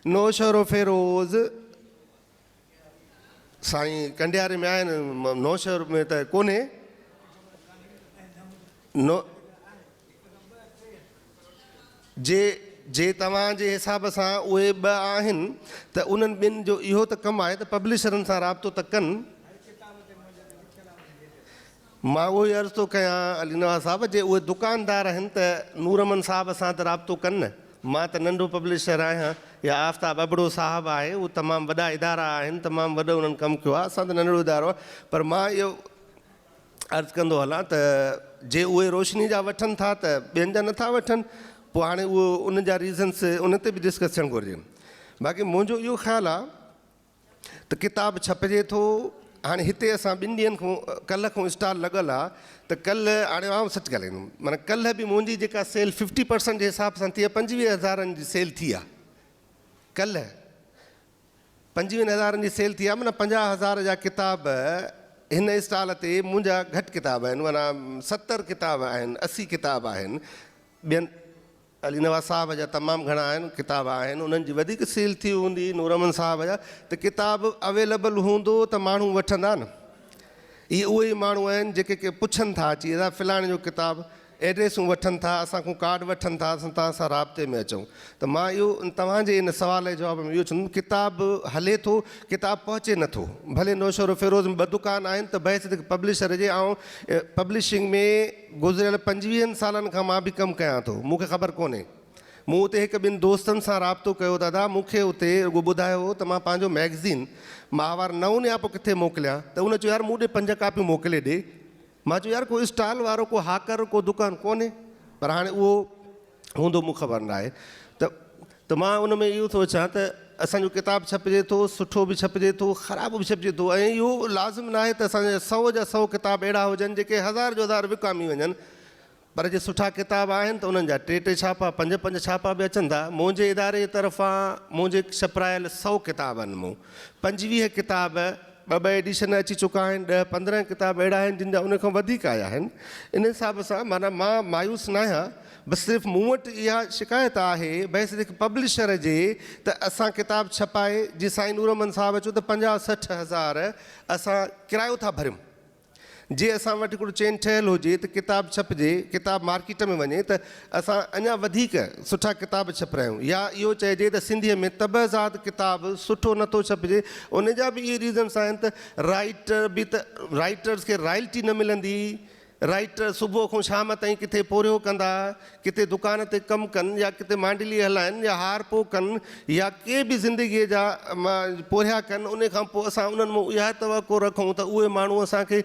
نوشهروفيروز سائين ڪنڊياري ۾ آهن نوشهر ۾ ته ڪونهي نو جي جي توهان جي حساب سان اهي ٻه آهن ته انهن ٻن جو اهو ته ڪم آهي ته پبلشرن سان رابطو ته ڪن. مان اهو ئي عرض ٿو ڪيان علي نواز صاحب جي اهي دڪاندار آهن ته نورمن صاحب سان ته رابطو ڪن نه. مان ته ننڍو پبلشر آهيان يا آفتاب ابڙو صاحب آهي اهي تمام وڏا ادارا آهن تمام وڏو انهن ڪم ڪيو آهي اسان ته ننڍڙو ادارو آهي پر مان اهو عرض ڪندو هلان ته جي اهي روشني جا وٺن ٿا ته ٻين جا نٿا وٺن پوء هاڻي اهو ان جا ريزنس ان تي به ڊسڪس ٿيڻ گهرجن باقي منهنجو اهو خيال آهي ته ڪتاب ڇپجي ٿو هاڻي هتي اسان ٻن ڏينهن کان ڪلهه کان اسٽال لڳل آ ته ڪلهه هاڻي آئون سچ ڳالهائيندم معنيٰ ڪلهه به منهنجي جيڪا سيل ففٽي پرسنٽ جي حساب سان ٿي آ پنجويهه هزارن جي سيل ٿي آ ڪلهه پنجويهن هزارن جي سيل ٿي آ معنيٰ پنجاهه هزار جا ڪتاب هن اسٽال تي منهنجا گهٽ ڪتاب آهن معنيٰ ستر ڪتاب آهن اسي ڪتاب آهن ٻين علي نواز صاحب جا تمام گهڻا آهن ڪتاب آهن انهن جي وڌيڪ سيل ٿي هوندي نورمن صاحب جا ته ڪتاب اويلبل هوندو ته ماڻهو وٺندا نه اهي اهي ئي ماڻهو آهن جيڪي ڪي پڇن ٿا اچي ادا فلاڻي جو ڪتاب ايڊريسون وٺن ٿا اسان کون ڪارڊ وٺن ٿا اسان توهان سان رابطي ۾ اچون ته مان اهو توهان جي ان سوال جي جواب ۾ اهو چوندم ڪتاب هلي ٿو ڪتاب پهچي نه ٿو ڀلي نوشهرو فيروز ۾ ٻه دڪان آهن ته بحيثيت هڪ پبلشر جي آئون پبلشنگ ۾ گذريل پنجويهن سالن کان مان به ڪم ڪيان ٿو، مون کي خبر ڪونهي. مون اتي هڪ ٻن دوستن سان رابطو ڪيو دادا مون کي اتي رڳو ٻڌايو هو ته مان پنهنجو مئگزين ماهوار نئون نياپو ڪٿي موڪليان ته ان چيو يار مون ڏي پنج ڪاپيون موڪلي ڏي مان چيو يار ڪو اسٽال وارو ڪو هاڪر ڪو دڪان ڪونهي پر هاڻي اهو هوندو مون خبر ناهي ته ته مان ان ۾ اهو ٿو اچان ته اسان جو ڪتاب ڇپجي ٿو سٺو به ڇپجي ٿو خراب به ڇپجي ٿو ۽ اهو لازم ناهي ته اسان جا سؤ جا سؤ ڪتاب اهڙا هجن جيڪي هزار جو هزار وڪامي وڃن پر جي سٺا ڪتاب آهن ته انهن جا ٽي ٽي ڇاپا پنج پنج ڇاپا به اچن ٿا منهنجي اداري جي طرفان منهنجي ڇپرايل سؤ ڪتابن مون پنجويهه ڪتاب ٻه ٻه ايڊيشن اچي چڪا آهن، ڏهه پندرهن کتاب اهڙا آهن جن جا ان کان وڌيڪ آيا آهن. ان حساب سان معنيٰ مان مايوس ناهيان، بس صرف مون وٽ اها شڪايت آهي بحيثيت هڪ پبلشر جي ته اسان ڪتاب ڇپائي جيئن سائين نورمحمد صاحب چيو ته پنجاهه سٺ هزار اسان ڪرايو ٿا ڀريون، جي اسان وٽ هڪڙو چين ٺهيل هجي ته ڪتاب ڇپجي، ڪتاب مارڪيٽ ۾ وڃي ته اسان اڃا وڌيڪ سٺا ڪتاب ڇپرايون يا اهو چئجي ته سنڌيء ۾ طبع زاد ڪتاب سٺو نه ٿو ڇپجي ان جا به اهي ريزنس آهن ته رائيٽر به ته رائيٽرز کي رائلٽي نه ملندي رائيٽر صبح کان شام تائين ڪٿي پورهيو ڪندا ڪٿي دڪان تي ڪم ڪن يا ڪٿي مانڊلي هلائن يا هار پو ڪن يا ڪي به زندگيء جا پورهيا ڪن ان کان پوء اسان انهن مون اها توقع رکون ته اهي ماڻهو اسان کي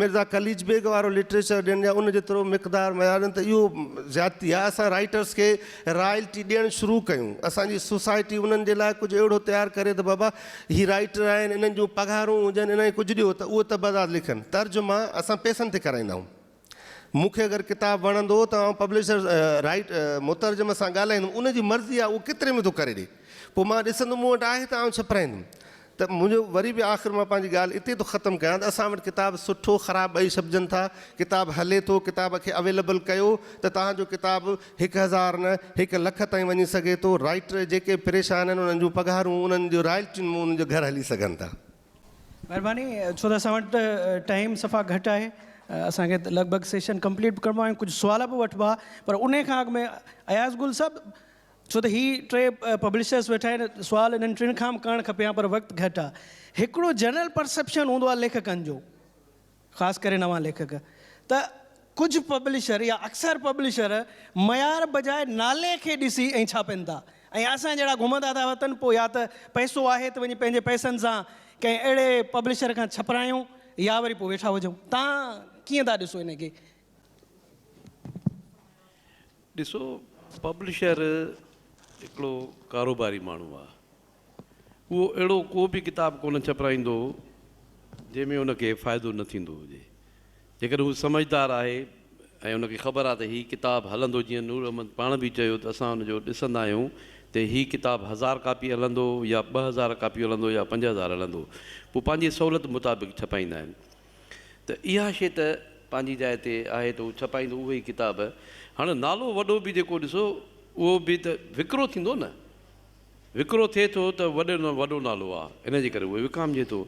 مرزا قليچ بيگ وارو لٽريچر ڏين يا ان جيترو مقدار ميارين ته اهو زيادتي آهي اسان رائيٽرس کي رائلٽي ڏيڻ شروع ڪيون اسان جي سوسائٽي انهن جي لاء ڪجهه اهڙو تيار ڪري ته بابا هي رائيٽر آهن انهن جون پگهارون هجن انهن کي ڪجهه ڏيو ته اهي تبادات لکن ترجما اسان پئسن تي ڪرائيندا آهيون. مون کي اگر ڪتاب وڻندو ته آئون پبلشر، رائيٽ، مترجم سان ڳالهائيندم، ان جي مرضي آهي اهو ڪيتري ۾ ٿو ڪري ڏئي. پوء مان ڏسندم مون وٽ آهي ته آئون ڇپرائيندم. ته منهنجو وري به آخر مان پنهنجي ڳالهه اتي ٿو ختم ڪيان ته اسان وٽ ڪتاب سٺو خراب ٻئي ڇپجن ٿا، ڪتاب هلي ٿو، ڪتاب کي اويليبل ڪيو ته تهان جو ڪتاب هڪ هزار نه هڪ لک تائين وڃي سگهي ٿو، رائيٽر جيڪي پريشان آهن انهن جون پگهارون، انهن جون رائلٽيون مون انهن جو گهر هلي سگهن ٿا. مھرباني ڇو ته اسان وٽ ٽائيم صفا گھٽ آھي اسان کي لڳ ڀڳ سيشن ڪمپليٽ به ڪرڻو آھي ڪجھ سوال به وٺبا پر ان کان اڳ ۾ اياز گل صاحب ڇو ته ھي ٽي پبلشرس ويٺا آھن سوال انھن ٽن کان به ڪرڻ کپي ھا پر وقت گھٽ آھي ھڪڙو جنرل پرسيپشن ھوندو آھي ليکڪن جو خاص ڪري نوان ليکڪ ته ڪجهه پبلشر يا اڪثر پبلشر معيار بجاء نالي کي ڏسي ۽ ڇاپين ٿا ۽ اسان جهڙا گهمندا ٿا وتن پوء يا ته پئسو آهي ته وڃي پنهنجي پئسن سان ڪنهن اهڙي پبلشر کان ڇپرايون يا وري پوء ويٺا هجون. تان ڪيئن ٿا ڏسو ان کي؟ ڏسو پبلشر هڪڙو ڪاروباري ماڻهو آ اهو اهڙو ڪو به ڪتاب ڪونه ڇپرائيندو جنهن ۾ ان کي فائدو نه ٿيندو هجي جيڪڏهن هو سمجهدار آهي ۽ ان کي خبر آ ته هي ڪتاب هلندو جيئن نور احمد پاڻ به چيو ته اسان ان جو ڏسندا آهيون ته هي ڪتاب هزار ڪاپي هلندو يا ٻه هزار ڪاپيون هلندو يا پنج هزار هلندو پوء پنهنجي سهولت مطابق ڇپائيندا آهن ته اها شيء ته پنهنجي جاء تي آهي ته هو ڇپائيندو اهي ئي ڪتاب. هاڻ نالو وڏو به جيڪو ڏسو اهو به ته وڪرو ٿيندو نه. وڪرو ٿئي ٿو ته وڏي ۾ وڏو نالو آ ان جي ڪري اهو وڪامجي ٿو.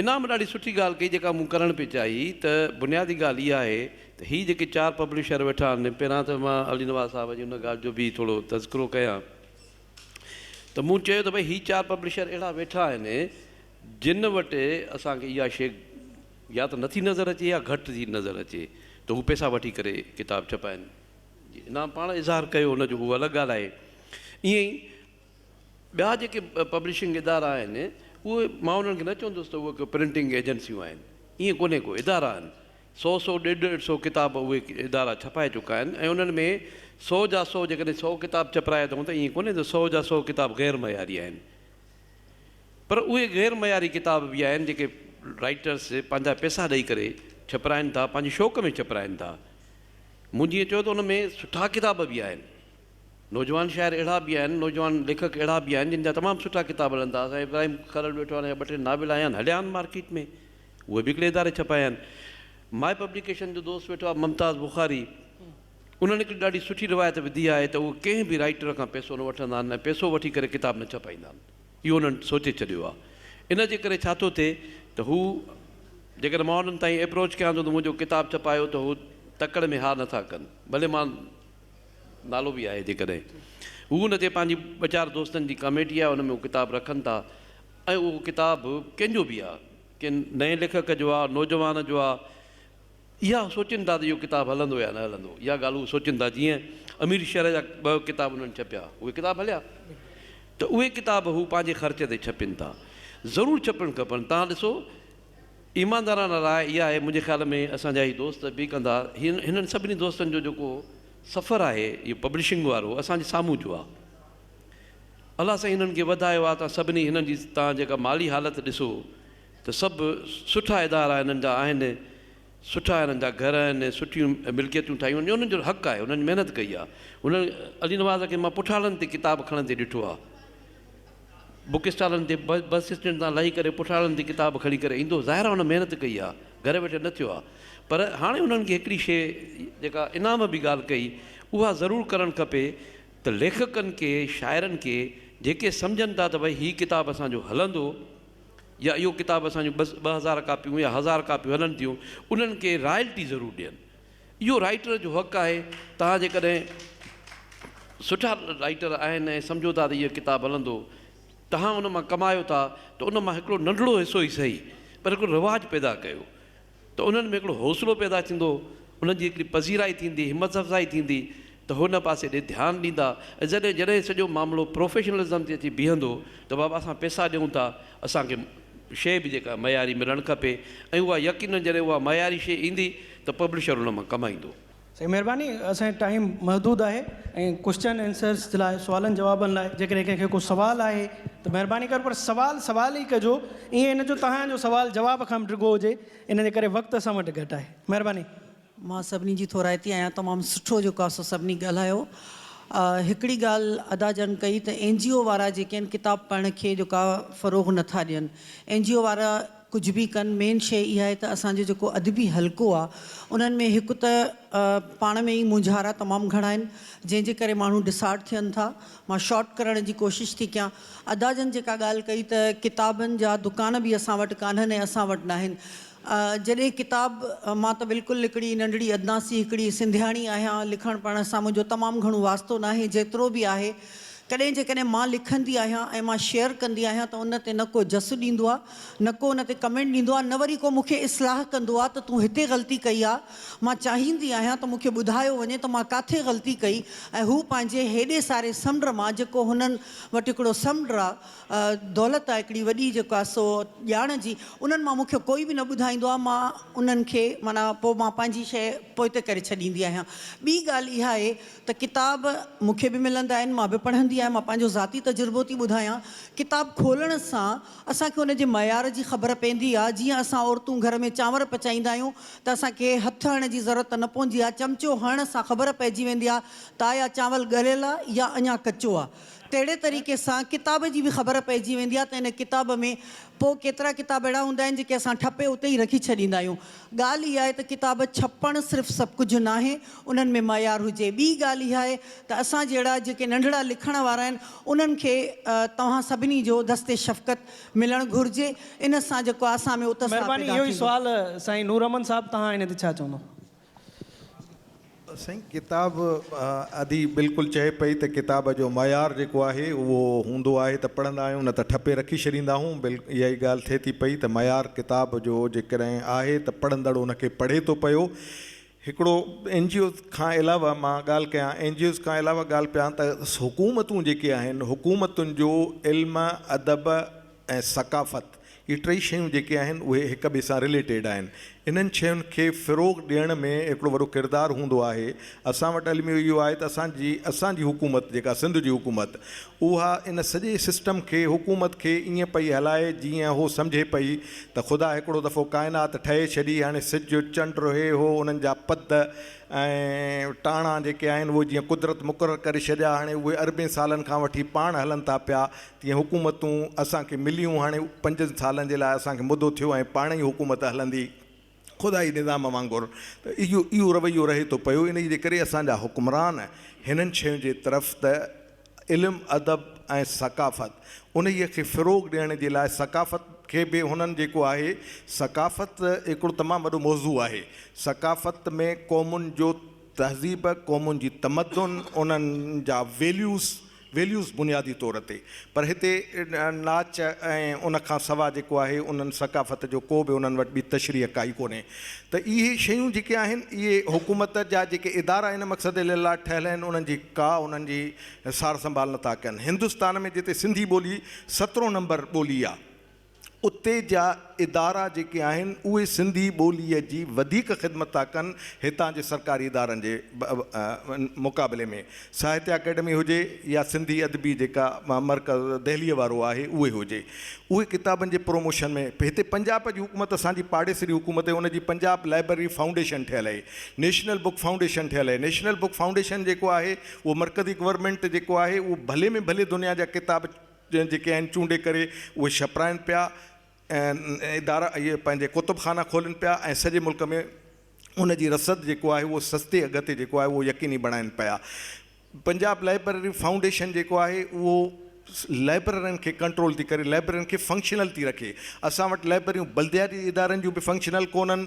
انعام ڏاڍي سٺي ڳالهه ڪئي جيڪا مون ڪرڻ پئي چاهي ته بنيادي ڳالهه اها آهي ته هي جيڪي چار پبلشر ويٺا آهن پهريان ته مان علي نواز صاحب جي ان ڳالهه جو به ٿورو تذڪرو ڪيان ته مون چيو ته ڀئي هي چار پبلشر اهڙا ويٺا آهن جن وٽ اسان کي اها شيء يا ته نٿي نظر اچي يا گهٽ ٿي نظر اچي ته هو پئسا وٺي ڪري ڪتاب ڇپائين جي انعام پاڻ اظهار ڪيو ان جو اهو الڳ ڳالهه آهي ائين ئي ٻيا جيڪي پبلشنگ ادارا آهن اهي مان انهن کي نه چوندس ته اهي ڪو پرنٽنگ ايجنسيون آهن ائين ڪونهي ڪو ادارا آهن سو سو ڏيڍ ڏيڍ سو ڪتاب اهي ادارا ڇپائي چڪا آهن ۽ انهن ۾ سو جا سو جيڪڏهن سو ڪتاب چپرايا اٿئون ته ائين ڪونهي ته سو جا سو ڪتاب غير معياري آهن پر اهي غير معياري ڪتاب به آهن جيڪي رائيٽرس پنهنجا پيسا ڏئي ڪري ڇپرائين ٿا پنهنجي شوق ۾ ڇپرائين ٿا مون جيئن چيو ته ان ۾ سٺا ڪتاب به آهن نوجوان شاعر اهڙا به آهن نوجوان ليکڪ اهڙا به آهن جن جا تمام سٺا ڪتاب هلن ٿا سائين ابراهيم کرل ويٺو آهي ان جا ٻه ٽي ناول آيا آهن هليا آهن مارڪيٽ ۾ اهي به هڪڙي اداري ڇپايا آهن مائي پبليڪيشن جو دوست ويٺو آهي ممتاز بخاري انهن هڪ ڏاڍي سٺي روايت وڌي آهي ته اهي ڪنهن به رائيٽر کان پئسو نه وٺندا آهن ۽ پئسو وٺي ڪري ڪتاب نه ڇپائيندا آهن. اهو انهن سوچي ڇڏيو آهي. ان جي ڪري ڇا ٿو ٿئي ته هو جيڪڏهن مان انهن تائين ايپروچ ڪيان ٿو ته منهنجو ڪتاب ڇپايو ته هو تڪڙ ۾ ها نٿا ڪن. ڀلي مان نالو به آهي جيڪڏهن هو ان تي پنهنجي ٻه چار دوستن جي ڪاميٽي آهي ان ۾ هو ڪتاب رکن ٿا ۽ اهو ڪتاب ڪنهن جو به آهي ڪنهن نئين ليکڪ جو آهي نوجوان جو آهي. اها سوچين ٿا ته اهو ڪتاب هلندو يا نه هلندو. اها ڳالهه هو سوچين ٿا. جيئن امير شرح جا ٻه ڪتاب هنن ڇپيا، اهي ڪتاب هليا؟ ته اهي ڪتاب هو پنهنجي خرچ تي ڇپين ٿا. ضرور ڇپڻ کپن. توهان ڏسو، ايماندارانه راء اها آهي، منهنجي خيال ۾ اسان جا هي دوست به ڪندا، هنن سڀني دوستن جو جيڪو سفر آهي اهو پبلشنگ وارو، اسان جي سامهون جو آهي. الله سائين هنن کي وڌايو آهي. توهان سڀني هنن جي توهان جيڪا مالي حالت ڏسو. ته سڀ سٺا ادارا هنن جا آهن، سٺا هنن جا گهر آهن، سٺيون ملڪيتون ٺاهيون آهن، اهو هنن جو حق آهي، هنن جي محنت ڪئي آهي، هنن علي نواز کي مان پٺاڙن تي ڪتاب کڻندي ڏٺو آهي، بڪ اسٽالن تي بس اسٽينڊ تان لهي ڪري پٺاڙن تي ڪتاب کڻي ڪري ايندو هو، ظاهر آهي هن محنت ڪئي آهي، گهر ويٺل نه ٿيو آهي، پر هاڻي هنن کي هڪڙي شيء جيڪا انعام به ڳالهه ڪئي اها ضرور ڪرڻ کپي ته ليکڪن کي، شاعرن کي جيڪي سمجهن ٿا ته ڀئي هي ڪتاب اسان جو هلندو، يا اهو ڪتاب اسان جون ٻه ٻه هزار ڪاپيون يا هزار ڪاپيون هلن ٿيون انهن کي رائلٽي ضرور ڏين اهو رائٽر جو حق آهي توهان جيڪڏهن سٺا رائٽر آهن ۽ سمجهو ٿا ته اهو ڪتاب هلندو توهان ان مان ڪمايو ٿا ته ان مان هڪڙو ننڍڙو حصو ئي سهي پر هڪڙو رواج پيدا ڪيو ته انهن ۾ هڪڙو حوصلو پيدا ٿيندو، انهن جي هڪڙي پذيرائي ٿيندي، همت افزائي ٿيندي ته هو ان پاسي ڏي ڌيان ڏيندا ۽ جڏهن جڏهن سڄو معاملو پروفيشنلزم تي اچي بيهندو ته بابا اسان پيسا ڏيون ٿا اسان کي شيء به جيڪا معياري ملڻ کپي ۽ اها يقينن جڏهن اها معياري شيء ايندي ته پبلشر ان مان ڪمائيندو. سائين مھرباني اسان جو ٽائيم محدود آھي ۽ ڪوسچن آنسرس جي لاء سوالن جوابن لاء جيڪڏھن ڪنھن کي ڪو سوال آھي ته مھرباني ڪري پر سوال سوال ئي ڪجو ائين نه جو تھان جو سوال جواب کان به ڊگھو ھجي ان جي ڪري وقت اسان وٽ گھٽ آھي مھرباني. مان سڀني جي ٿورائتي آھيان تمام سٺو جيڪو آھي سو سڀني ڳالھايو ھڪڙي ڳالھ ادا جن ڪئي ته اين جي او وارا جيڪي آھن ڪتاب پڙھڻ کي جيڪو آھي فروغ نٿا ڏين اين جي او وارا ڪجهه به ڪن مين شيء اها آهي ته اسان جو جيڪو ادبي حلقو آهي انهن ۾ هڪ ته پاڻ ۾ ئي مونجهارا تمام گهڻا آهن جنهن جي ڪري ماڻهو ڊسارٽ ٿين ٿا مان شارٽ ڪرڻ جي ڪوشش ٿي ڪيان ادا جن جيڪا ڳالهه ڪئي ته ڪتابن جا دڪان به اسان وٽ ڪانهن ۽ اسان وٽ ناهن جڏهن ڪتاب مان ته بلڪل هڪڙي ننڍڙي ادنا سي هڪڙي سنڌياڻي آهيان لکڻ پڙهڻ سان منهنجو تمام گهڻو واسطو ناهي جيترو به آهي ڪڏهن جيڪڏهن مان لکندي آهيان ۽ مان شيئر ڪندي آهيان ته ان تي نه ڪو جس ڏيندو آهي نه ڪو ان تي ڪمينٽ ڏيندو آ نه وري ڪو مون کي اصلاح ڪندو آ ته تون هتي غلطي ڪئي آ مان چاهيندي آهيان ته مون کي ٻڌايو وڃي ته مان ڪاٿي غلطي ڪئي ۽ هو پنهنجي هيڏي ساري سمنڊ مان جيڪو هنن وٽ هڪڙو سمنڊ آ دولت آ هڪڙي وڏي جيڪو آ سو ڄاڻ جي انهن مان مون کي ڪوئي به نه ٻڌائيندو آ مان انهن کي معنيٰ پوء مان پنهنجي شيء پوئتي ڪري ڇڏيندي آهيان ٻي ڳالهه اها آهي ته ڪتاب مون کي به ملندا آهن مان به پڙهندي آهيان مان پنهنجو ذاتي تجربو ٿي ٻڌايان ڪتاب کولڻ سان اسان کي ان جي معيار جي خبر پيندي آ، جيئن اسان عورتون گهر ۾ چانور پچائيندا آهيون ته اسان کي هٿ هڻڻ جي ضرورت ته نه پوندي آ، چمچو هڻڻ سان خبر پئجي ويندي آ ته آيا چانول ڳريل آ يا اڃا ڪچو آ. تهڙي طريقي سان ڪتاب جي به خبر پئجي ويندي آ ته ان ڪتاب ۾ پوء ڪيترا ڪتاب اهڙا هوندا آهن جيڪي اسان ٺپي اتي ئي رکي ڇڏيندا آهيون. ڳالهه اها آهي ته ڪتاب ڇپڻ صرف سڀ ڪجهه ناهي، انهن ۾ معيار هجي. ٻي ڳالهه اها آهي ته اسان جهڙا جيڪي ننڍڙا لکڻ وارا آهن، انهن کي توهان سڀني جو دست شفقت ملڻ گهرجي، ان سان جيڪو آهي اسان ۾ اتساهه پيدا ٿيندو. مهرباني اهو ئي سوال سائين نور احمد صاحب تهان هن تي ڇا چوندو. سائين ڪتاب ادي بلڪل چئي پئي ته ڪتاب جو معيار جيڪو آهي اهو هوندو آهي ته پڙهندا آهيون نه ته ٺپي رکي ڇڏيندا آهون اها ئي ڳالهه ٿئي ٿي پئي ته معيار ڪتاب جو جيڪڏهن آهي ته پڙهندڙ ان کي پڙهي ٿو پيو هڪڙو اين جي اوز کان علاوه مان ڳالهه ڪيان اين جي اوز کان علاوه ڳالهه ڪيان ته حڪومتون جيڪي آهن حڪومتن جو علم ادب ۽ ثقافت اهي ٽئي شيون جيڪي آهن اهي هڪ ٻئي سان رليٽيڊ آهن انهن شين کي فروغ ڏيڻ ۾ هڪڙو وڏو ڪردار هوندو آهي اسان وٽ الميو اهو آهي ته اسان جي اسان جي حڪومت جيڪا سنڌ جي حڪومت اها ان سڄي سسٽم کي حڪومت کي ائين پئي هلائي جيئن هو سمجهي پئي ته خدا هڪڙو دفعو ڪائنات ٺهي ڇڏي هاڻي سج چنڊ هي هو انهن جا پد ۽ ٽاڻا جيڪي آهن اهي جيئن قدرت مقرر ڪري ڇڏيا هاڻي اهي اربين سالن کان وٺي پاڻ هلن ٿا پيا تيئن حڪومتون اسان کي مليون هاڻي پنجن سالن جي لاء اسان کي مدو ٿيو ۽ پاڻ ئي حڪومت هلندي خدائي نظام وانگر ته اهو اهو رويو رهي ٿو پيو انهي جي ڪري اسان جا حڪمران هنن شين جي طرف ته علم ادب ۽ ثقافت انهي کي فروغ ڏيڻ جي لاء ثقافت کي به هنن جيڪو آهي ثقافت هڪڙو تمام وڏو موضوع آهي ثقافت ۾ قومن جو تهذيب قومن جي تمدن انهن جا ويليوز ويليوز بنيادي طور تي پر هتي ناچ ۽ ان کان سوا جيڪو آهي انهن ثقافت جو ڪو به انهن وٽ ٻي تشريح ڪائي ڪونهي ته اهي شيون جيڪي آهن اهي حڪومت جا جيڪي ادارا ان مقصد لاء ٺهيل آهن انهن جي ڪا انهن جي سار سنڀال نٿا ڪن هندستان ۾ جتي سنڌي ٻولي سترهون نمبر ٻولي آهي اتي جا ادارا جيڪي آهن اهي سنڌي ٻولي جي وڌيڪ خدمت ٿا ڪن هتان جي سرڪاري ادارن جي مقابلي ۾ ساهتيه اڪيڊمي هجي يا سنڌي ادبي جيڪا مرڪز دهليء وارو آهي اهي هجي اهي ڪتابن جي پروموشن ۾ هتي پنجاب جي حڪومت اسان جي پاڙيسري حڪومت هي ان جي پنجاب لائبرري فائونڊيشن ٺهيل هي نيشنل بوڪ فائونڊيشن ٺهيل هي نيشنل بوڪ فائونڊيشن جيڪو آهي اهو مرڪزي گورنمينٽ جيڪو آهي اهو ڀلي ۾ ڀلي دنيا جا ڪتاب جيڪي آهن چونڊي ڪري اهي ڇپرائن پيا ۽ ادارا اهي پنهنجي ڪتب خانا کولين پيا ۽ سڄي ملڪ ۾ ان جي رسد جيڪو آهي اهو سستي اگهه تي جيڪو آهي اهو يقيني بڻائين پيا پنجاب لائبرري فائونڊيشن جيڪو آهي اهو لائبررين کي ڪنٽرول ٿي ڪري لائبررين کي فنڪشنل ٿي رکي اسان وٽ لائبرريون بلدياتي ادارن جون به فنڪشنل ڪونهن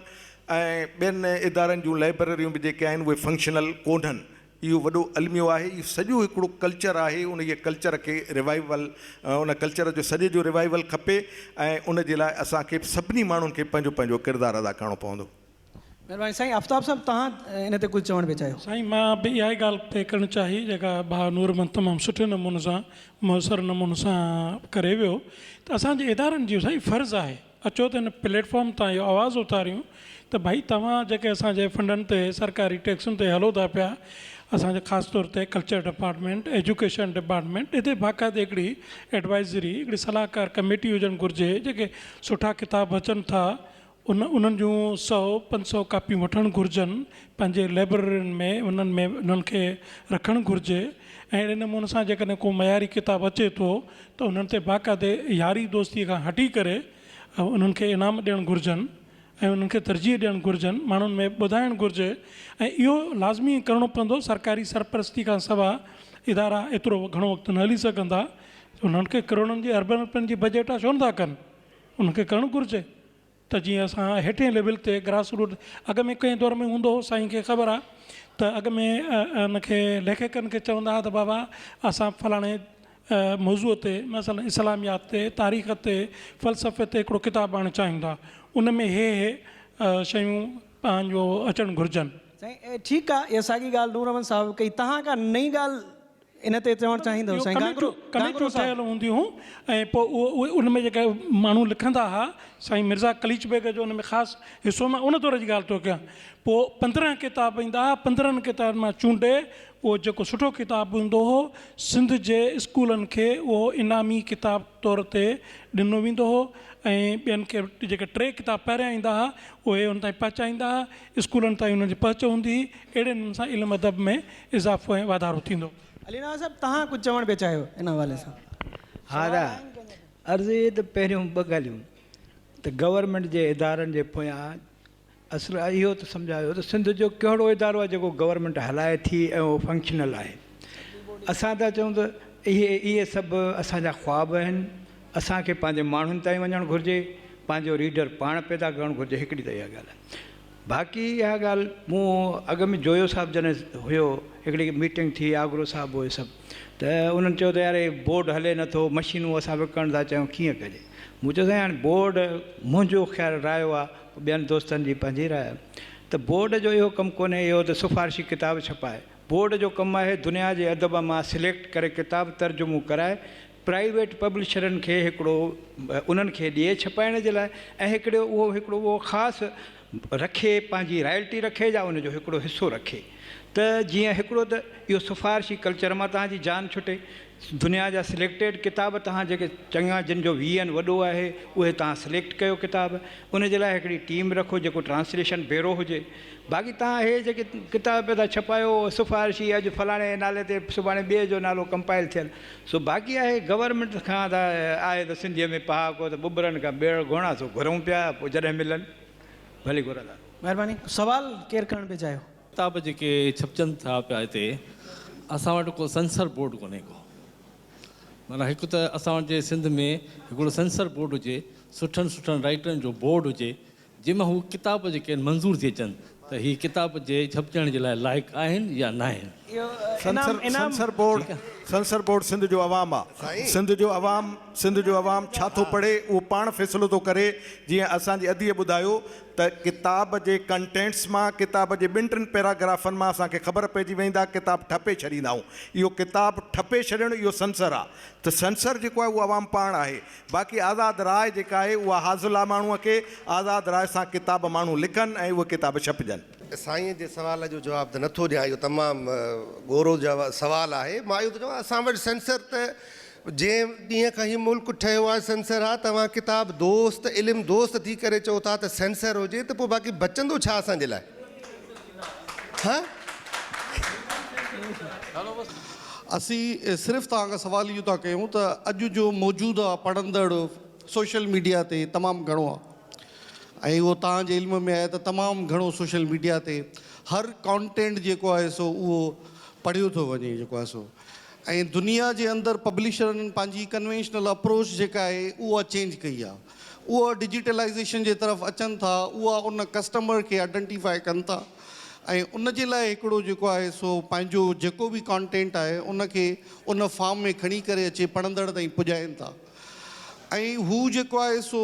۽ ٻين ادارن جون لائبرريون به جيڪي آهن اهي فنڪشنل ڪونهن اهو وڏو الميو آهي، اهو سڄو هڪڙو ڪلچر آهي، انهيء ڪلچر کي ريوائيول، ان ڪلچر جو سڄي جو ريوائيول کپي ۽ ان جي لاء اسان کي سڀني ماڻهن کي پنهنجو پنهنجو ڪردار ادا ڪرڻو پوندو. مهرباني سائين آفتاب صاحب توهان ان تي ڪجهه چوڻ پئي چاهيو. سائين مان به اها ئي ڳالهه پئي ڪرڻ چاهي جيڪا ڀاء نور محمد تمام سٺي نموني سان مؤثر نموني سان ڪري ويو ته اسان جي ادارن جو سائين فرض آهي اچو ته هن پليٽ فارم تان اهو آواز اٿاريون ته ڀائي توهان جيڪي اسان جي فنڊن تي سرڪاري ٽيڪسن تي هلو ٿا پيا اسان جي خاص طور تي ڪلچر ڊپارٽمينٽ ايجوڪيشن ڊپارٽمينٽ اتي باقاعدي هڪڙي ايڊوائزري هڪڙي صلاحڪار ڪميٽي هجڻ گهرجي جيڪي سٺا ڪتاب اچن ٿا ان انهن جون سؤ پنج سؤ ڪاپيون وٺڻ گهرجن پنهنجي لئبررين ۾ انهن ۾ انهن کي رکڻ گهرجي ۽ اهڙي نموني سان جيڪڏهن ڪو معياري ڪتاب اچي ٿو ته انهن تي باقاعدي ياري دوستي کان هٽي ڪري انهن کي انعام ڏيڻ گهرجن ۽ انهن کي ترجيح ڏيڻ گهرجن ماڻهن ۾ ٻڌائڻ گهرجي ۽ اهو لازمي ڪرڻو پوندو سرڪاري سرپرستي کان سوا ادارا ايترو گهڻو وقت نه هلي سگهندا انهن کي ڪروڙن جي اربن رپين جي بجيٽ ڇو نٿا ڪن انهن کي ڪرڻ گهرجي. ته جيئن اسان هيٺين ليول تي گراس روٽ اڳ ۾ ڪنهن دور ۾ هوندو هو سائين کي خبر آ ته اڳ ۾ ان کي ليکڪن کي چوندا هئا ته بابا اسان فلاڻي موضوع تي مثلا اسلاميات تي تاريخ تي فلسفي تي هڪڙو ڪتاب آڻڻ چاهيون ٿا ان ۾ هي هي شيون پنهنجو اچڻ گهرجن. سائين ٺيڪ آ اها ساڳي ڳالهه نور احمد صاحب به ڪئي تهان ڪا نئين ڳالهه ان تي چوڻ چاهيندو سائين گانگرو ڪميٽيون ٺهيل هونديون ۽ پوء اهي ان ۾ جيڪي ماڻهو لکندا ها سائين مرزا قليچ بيگ جو ان ۾ خاص حصو مان ان دور جي ڳالهه ٿو ڪيان پوء پندرهن ڪتاب ايندا ها پندرهن ڪتابن مان چونڊي اهو جيڪو سٺو ڪتاب هوندو هو سنڌ جي اسڪولن کي اهو انعامي ڪتاب طور تي ڏنو ويندو هو ۽ ٻين کي جيڪي ٽي ڪتاب پهريان ايندا ها اهي ان تائين پهچائيندا ها اسڪولن تائين انهن جي پهچ هوندي، اهڙي نموني سان علم ادب ۾ اضافو ۽ واڌارو ٿيندو. علي نواز صاحب تهان ڪجهه چوڻ پيا چاهيو ان حوالي سان. ها دا عرض اهي ته پهريون ٻه ڳالهيون ته گورنمينٽ جي ادارن جي پويان اصل اهو ته سمجهايو ته سنڌ جو ڪهڙو ادارو آهي جيڪو گورنمينٽ هلائي ٿي ۽ اهو فنڪشنل آهي اسان ٿا چئون ته اهي اهي سڀ اسان جا خواب آهن اسان کي پنهنجي ماڻهن تائين وڃڻ گهرجي، پنهنجو ريڊر پاڻ پيدا ڪرڻ گهرجي هڪڙي ته اها ڳالهه آهي. باقي اها ڳالهه مون اڳ ۾ جويو صاحب جڏهن هيو هڪڙي ميٽنگ ٿي آگرو صاحب هو سڀ ته انهن چيو ته يار هي بورڊ هلي نه ٿو مشينون اسان وڪڻڻ ٿا چاهيون ڪيئن ڪجي مون چيو سائين هاڻي بورڊ منهنجو خيال رايو آهي ٻين دوستن جي پنهنجي راء آهي ته بورڊ جو اهو ڪم ڪونهي اهو ته سفارشي ڪتاب ڇپائي بورڊ جو ڪم آهي دنيا جي ادب مان سليڪٽ ڪري ڪتاب ترجمو ڪرائي پرائيويٽ پبلشرن کي هڪڙو انهن کي ڏئي ڇپائڻ جي لاء ۽ هڪڙو اهو هڪڙو اهو خاص رکي پنهنجي رائلٽي رکي يا ان جو هڪڙو حصو رکي ته جيئن هڪڙو ته اهو سفارشي ڪلچر مان توهان جي جان ڇٽي دنيا جا سليڪٽيڊ ڪتاب توهان جيڪي چڱا جن جو وي اين وڏو آهي اهي توهان سليڪٽ ڪيو ڪتاب ان جي لاء هڪڙي ٽيم رکو جيڪو ٽرانسليشن بيرو هجي باقي توهان اهي جيڪي ڪتاب پيا ٿا ڇپايو سفارشي اڄ فلاڻي نالي تي سڀاڻي ٻئي جو نالو ڪمپائل ٿيل سو باقي آهي گورنمينٽ کان ته آهي ته سنڌيء ۾ پهاڪو ته ٻٻرن کان ٻيڙ گهوڻا سو گهرون پيا پوء جڏهن ملن ڀلي گهرندا. مهرباني سوال ڪير ڪرڻ پئي چاهيو. ڪتاب جيڪي ڇپجن ٿا پيا هتي اسان وٽ ڪو سينسر بورڊ ڪونهي ڪو معنيٰ هڪ ته اسان وٽ جي سنڌ ۾ هڪڙو سينسر بورڊ هجي سٺن سٺن رائيٽرن جو بورڊ هجي جنهن مان هو ڪتاب جي کين منظور ٿي اچن ته هي ڪتاب جي ڇپجڻ جي لاء لائق آهن يا ناهن. Censor board censor board Sindh جو عوام آ سنڌ جو عوام سنڌ جو عوام ڇا ٿو پڙهي اهو پاڻ فيصلو ٿو ڪري جيئن اسان جي ادي ٻڌايو ته ڪتاب جي ڪنٽينٽس مان ڪتاب جي ٻن ٽن پيراگرافن مان اسان کي خبر پئجي ويندا ڪتاب ٺپي ڇڏيندا آهون اهو ڪتاب ٺپي ڇڏڻ اهو سنسر آ ته سنسر جيڪو آهي اهو عوام پاڻ آهي باقي آزاد راء جيڪا آهي اها حاصل آ ماڻهوء کي، آزاد راء سان ڪتاب ماڻهو لکن ۽ اهي ڪتاب ڇپجن. سائين جي سوال جو جواب ته نٿو ڏيان اهو تمام ڳورو سوال آهي مان اهو ٿو چوان اسان وٽ سينسر ته جنهن ڏينهن کان هي ملڪ ٺهيو آهي سينسر آ توهان ڪتاب دوست علم دوست ٿي ڪري چئو ٿا ته سينسر هجي ته پوء باقي بچندو ڇا اسان جي لاء. اسين صرف توهان کان سوال اهو ٿا ڪيون ته اڄ جو موجوده پڙهندڙ سوشل ميڊيا تي تمام گهڻو آهي ۽ اهو توهان جي علم ۾ آهي ته تمام گهڻو سوشل ميڊيا تي هر ڪانٽينٽ جيڪو آهي سو اهو پڙهيو ٿو وڃي جيڪو آهي سو ۽ دنيا جي اندر پبلشرن پنهنجي ڪنوينشنل اپروچ جيڪا آهي اها چينج ڪئي آهي اهي ڊجيٽلائيزيشن جي طرف اچن ٿا اهي ان ڪسٽمر کي آئيڊنٽيفائي ڪن ٿا ۽ ان جي لاء هڪڙو جيڪو آهي سو پنهنجو جيڪو به ڪانٽينٽ آهي ان کي ان فارم ۾ کڻي ڪري اچي پڙهندڙ تائين پڄائين ٿا ۽ هو جيڪو آهي سو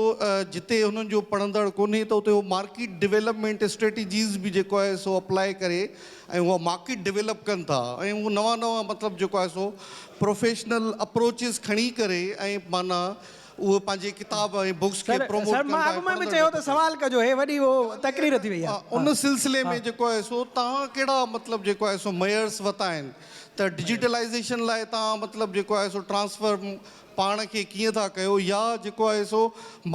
جتي هنن جو پڙهندڙ ڪونهي ته اتي هو مارڪيٽ ڊيولپمينٽ اسٽريٽجيز به جيڪو آهي سو اپلاء ڪري ۽ اها مارڪيٽ ڊيولپ ڪن ٿا ۽ هو نوان نوان مطلب جيڪو آهي سو پروفيشنل اپروچز کڻي ڪري ۽ معنيٰ اهي پنهنجي ڪتاب ۽ بوڪس کي پروموٽ ڪن ٿا ۽ پڙهندڙ به ٿا سنجهن. ان سلسلي ۾ جيڪو آهي سو توهان ڪهڙا مطلب جيڪو آهي سو ميئرس وتا آهن ته ڊجيٽلائيزيشن لاء توهان مطلب جيڪو آهي سو ٽرانسفارم پاڻ کي ڪيئن ٿا ڪيو يا جيڪو آهي سو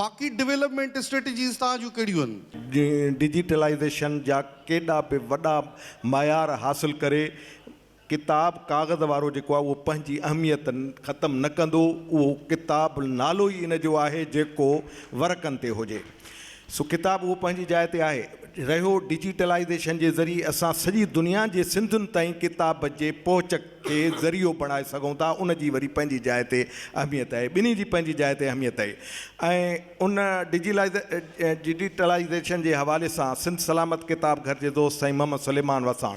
باقي ڊولپمينٽ اسٽريٽجيز توهان جون ڪهڙيون آهن؟ ڊجيٽلائيزيشن جا ڪيڏا به وڏا معيار حاصل ڪري ڪتاب ڪاغذ وارو جيڪو آهي اهو پنهنجي اهميت ختم نه ڪندو. اهو ڪتاب نالو ئي ان جو آهي جيڪو ورقن تي هجي. سو ڪتاب اهو پنهنجي جاء تي آهي. رهيو ڊجيٽلائيزيشن جي ذريعي اسان سڄي دنيا جي سنڌين تائين ڪتاب جي پهچ کي ذريعو بڻائي سگهون ٿا ان جي وري پنهنجي جاء تي اهميت آهي. ٻنهي جي پنهنجي جاء تي اهميت آهي ۽ ان ڊجيٽلائيزيشن جي حوالي سان سنڌ سلامت ڪتاب گهر جي دوست سائين محمد سليمان وساڻ،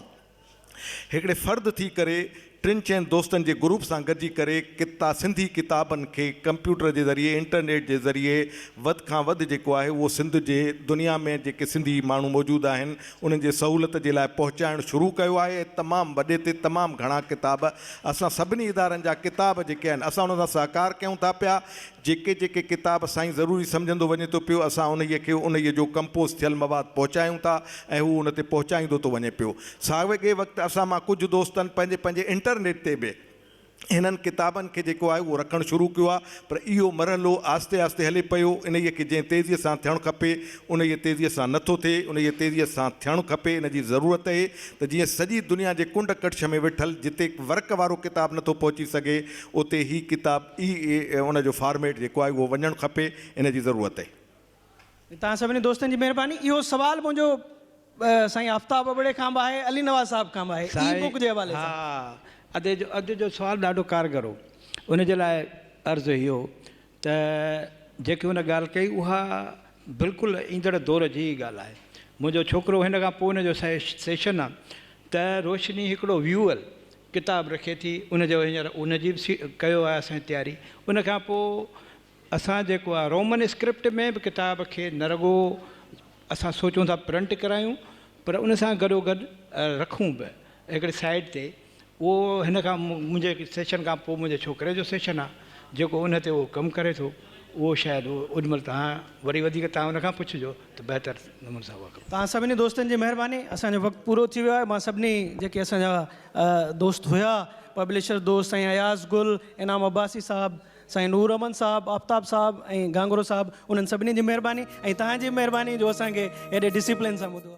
هڪڙي فرد ٿي ڪري ٽن چئن دوستن جي گروپ سان گڏجي ڪري ڪتا سنڌي ڪتابن کي ڪمپيوٽر جي ذريعي انٽرنيٽ جي ذريعي وڌ کان وڌ جيڪو آهي اهو سنڌ جي دنيا ۾ جيڪي سنڌي ماڻهو موجود آهن انهن جي سهولت جي لاء پهچائڻ شروع ڪيو آهي ۽ تمام وڏي تي تمام گهڻا ڪتاب اسان سڀني ادارن جا ڪتاب جيڪي آهن اسان انهن سان سهڪار ڪيون ٿا پيا جيڪي جيڪي ڪتاب سائين ضروري سمجهندو وڃي ٿو پيو اسان انهيء کي انهيء جو ڪمپوز ٿيل مواد پهچايون ٿا ۽ هو ان تي پهچائيندو ٿو وڃي پيو. ساڳئي وقت اسان مان ڪجهه دوستن پنهنجي پنهنجي انٽرنيٽ تي به هنن ڪتابن کي جيڪو آهي اهو رکڻ شروع ڪيو آهي پر اهو مرحلو آهستي آهستي هلي پيو انهيء کي جنهن تيزيء سان ٿيڻ کپي انهيء تيزيء سان نه ٿو ٿئي انهيء تيزيء سان ٿيڻ کپي ان جي ضرورت اهي ته جيئن سڄي دنيا جي ڪنڊ ڪڙڇ ۾ ويٺل جتي ورق وارو ڪتاب نه ٿو پهچي سگهي اتي هي ڪتاب ئي ان جو فارميٽ جيڪو آهي اهو وڃڻ کپي ان جي ضرورت اهي. توهان سڀني دوستن جي مهرباني. اهو سوال منهنجو سائين آفتاب ابڙي کان به آهي علي نواز صاحب کان به آهي اي بوڪ جي حوالي سان. سائين ها اڄ جو سوال ڏاڍو ڪارگر هو ان جي لاء عرض اهو ته جيڪي هن ڳالهه ڪئي اها بلڪل ايندڙ دور جي ئي ڳالهه آهي. منهنجو ڇوڪرو هن کان پوء هن جو سيشن آهي ته روشني هڪڙو ويول ڪتاب رکي ٿي ان جو هينئر ان جي به ڪيو آهي اسان تياري ان کان پوء اسان جيڪو آهي رومن اسڪرپٽ ۾ به ڪتاب کي نه رڳو اسان سوچون ٿا پرنٽ ڪرايون پر ان سان گڏو گڏ رکون به هڪڙي سائيڊ تي اهو هن کان منهنجي سيشن کان پوء منهنجي ڇوڪري جو سيشن آهي جيڪو ان تي اهو ڪم ڪري ٿو اهو شايد اوڏ مهل توهان وري وڌيڪ توهان ان کان پڇجو ته بهتر نموني سان اهو ڪم. توهان سڀني دوستن جي مهرباني اسان جو وقت پورو ٿي ويو آهي مان سڀني جيڪي اسان جا دوست هيا پبلشر دوست سائين اياز گل انعام عباسي صاحب سائين نور احمد صاحب آفتاب صاحب ۽ گانگرو صاحب انهن سڀني جي مهرباني ۽ توهان جي به مهرباني جو اسان کي ايڏي ڊسيپلين سان ٻڌو.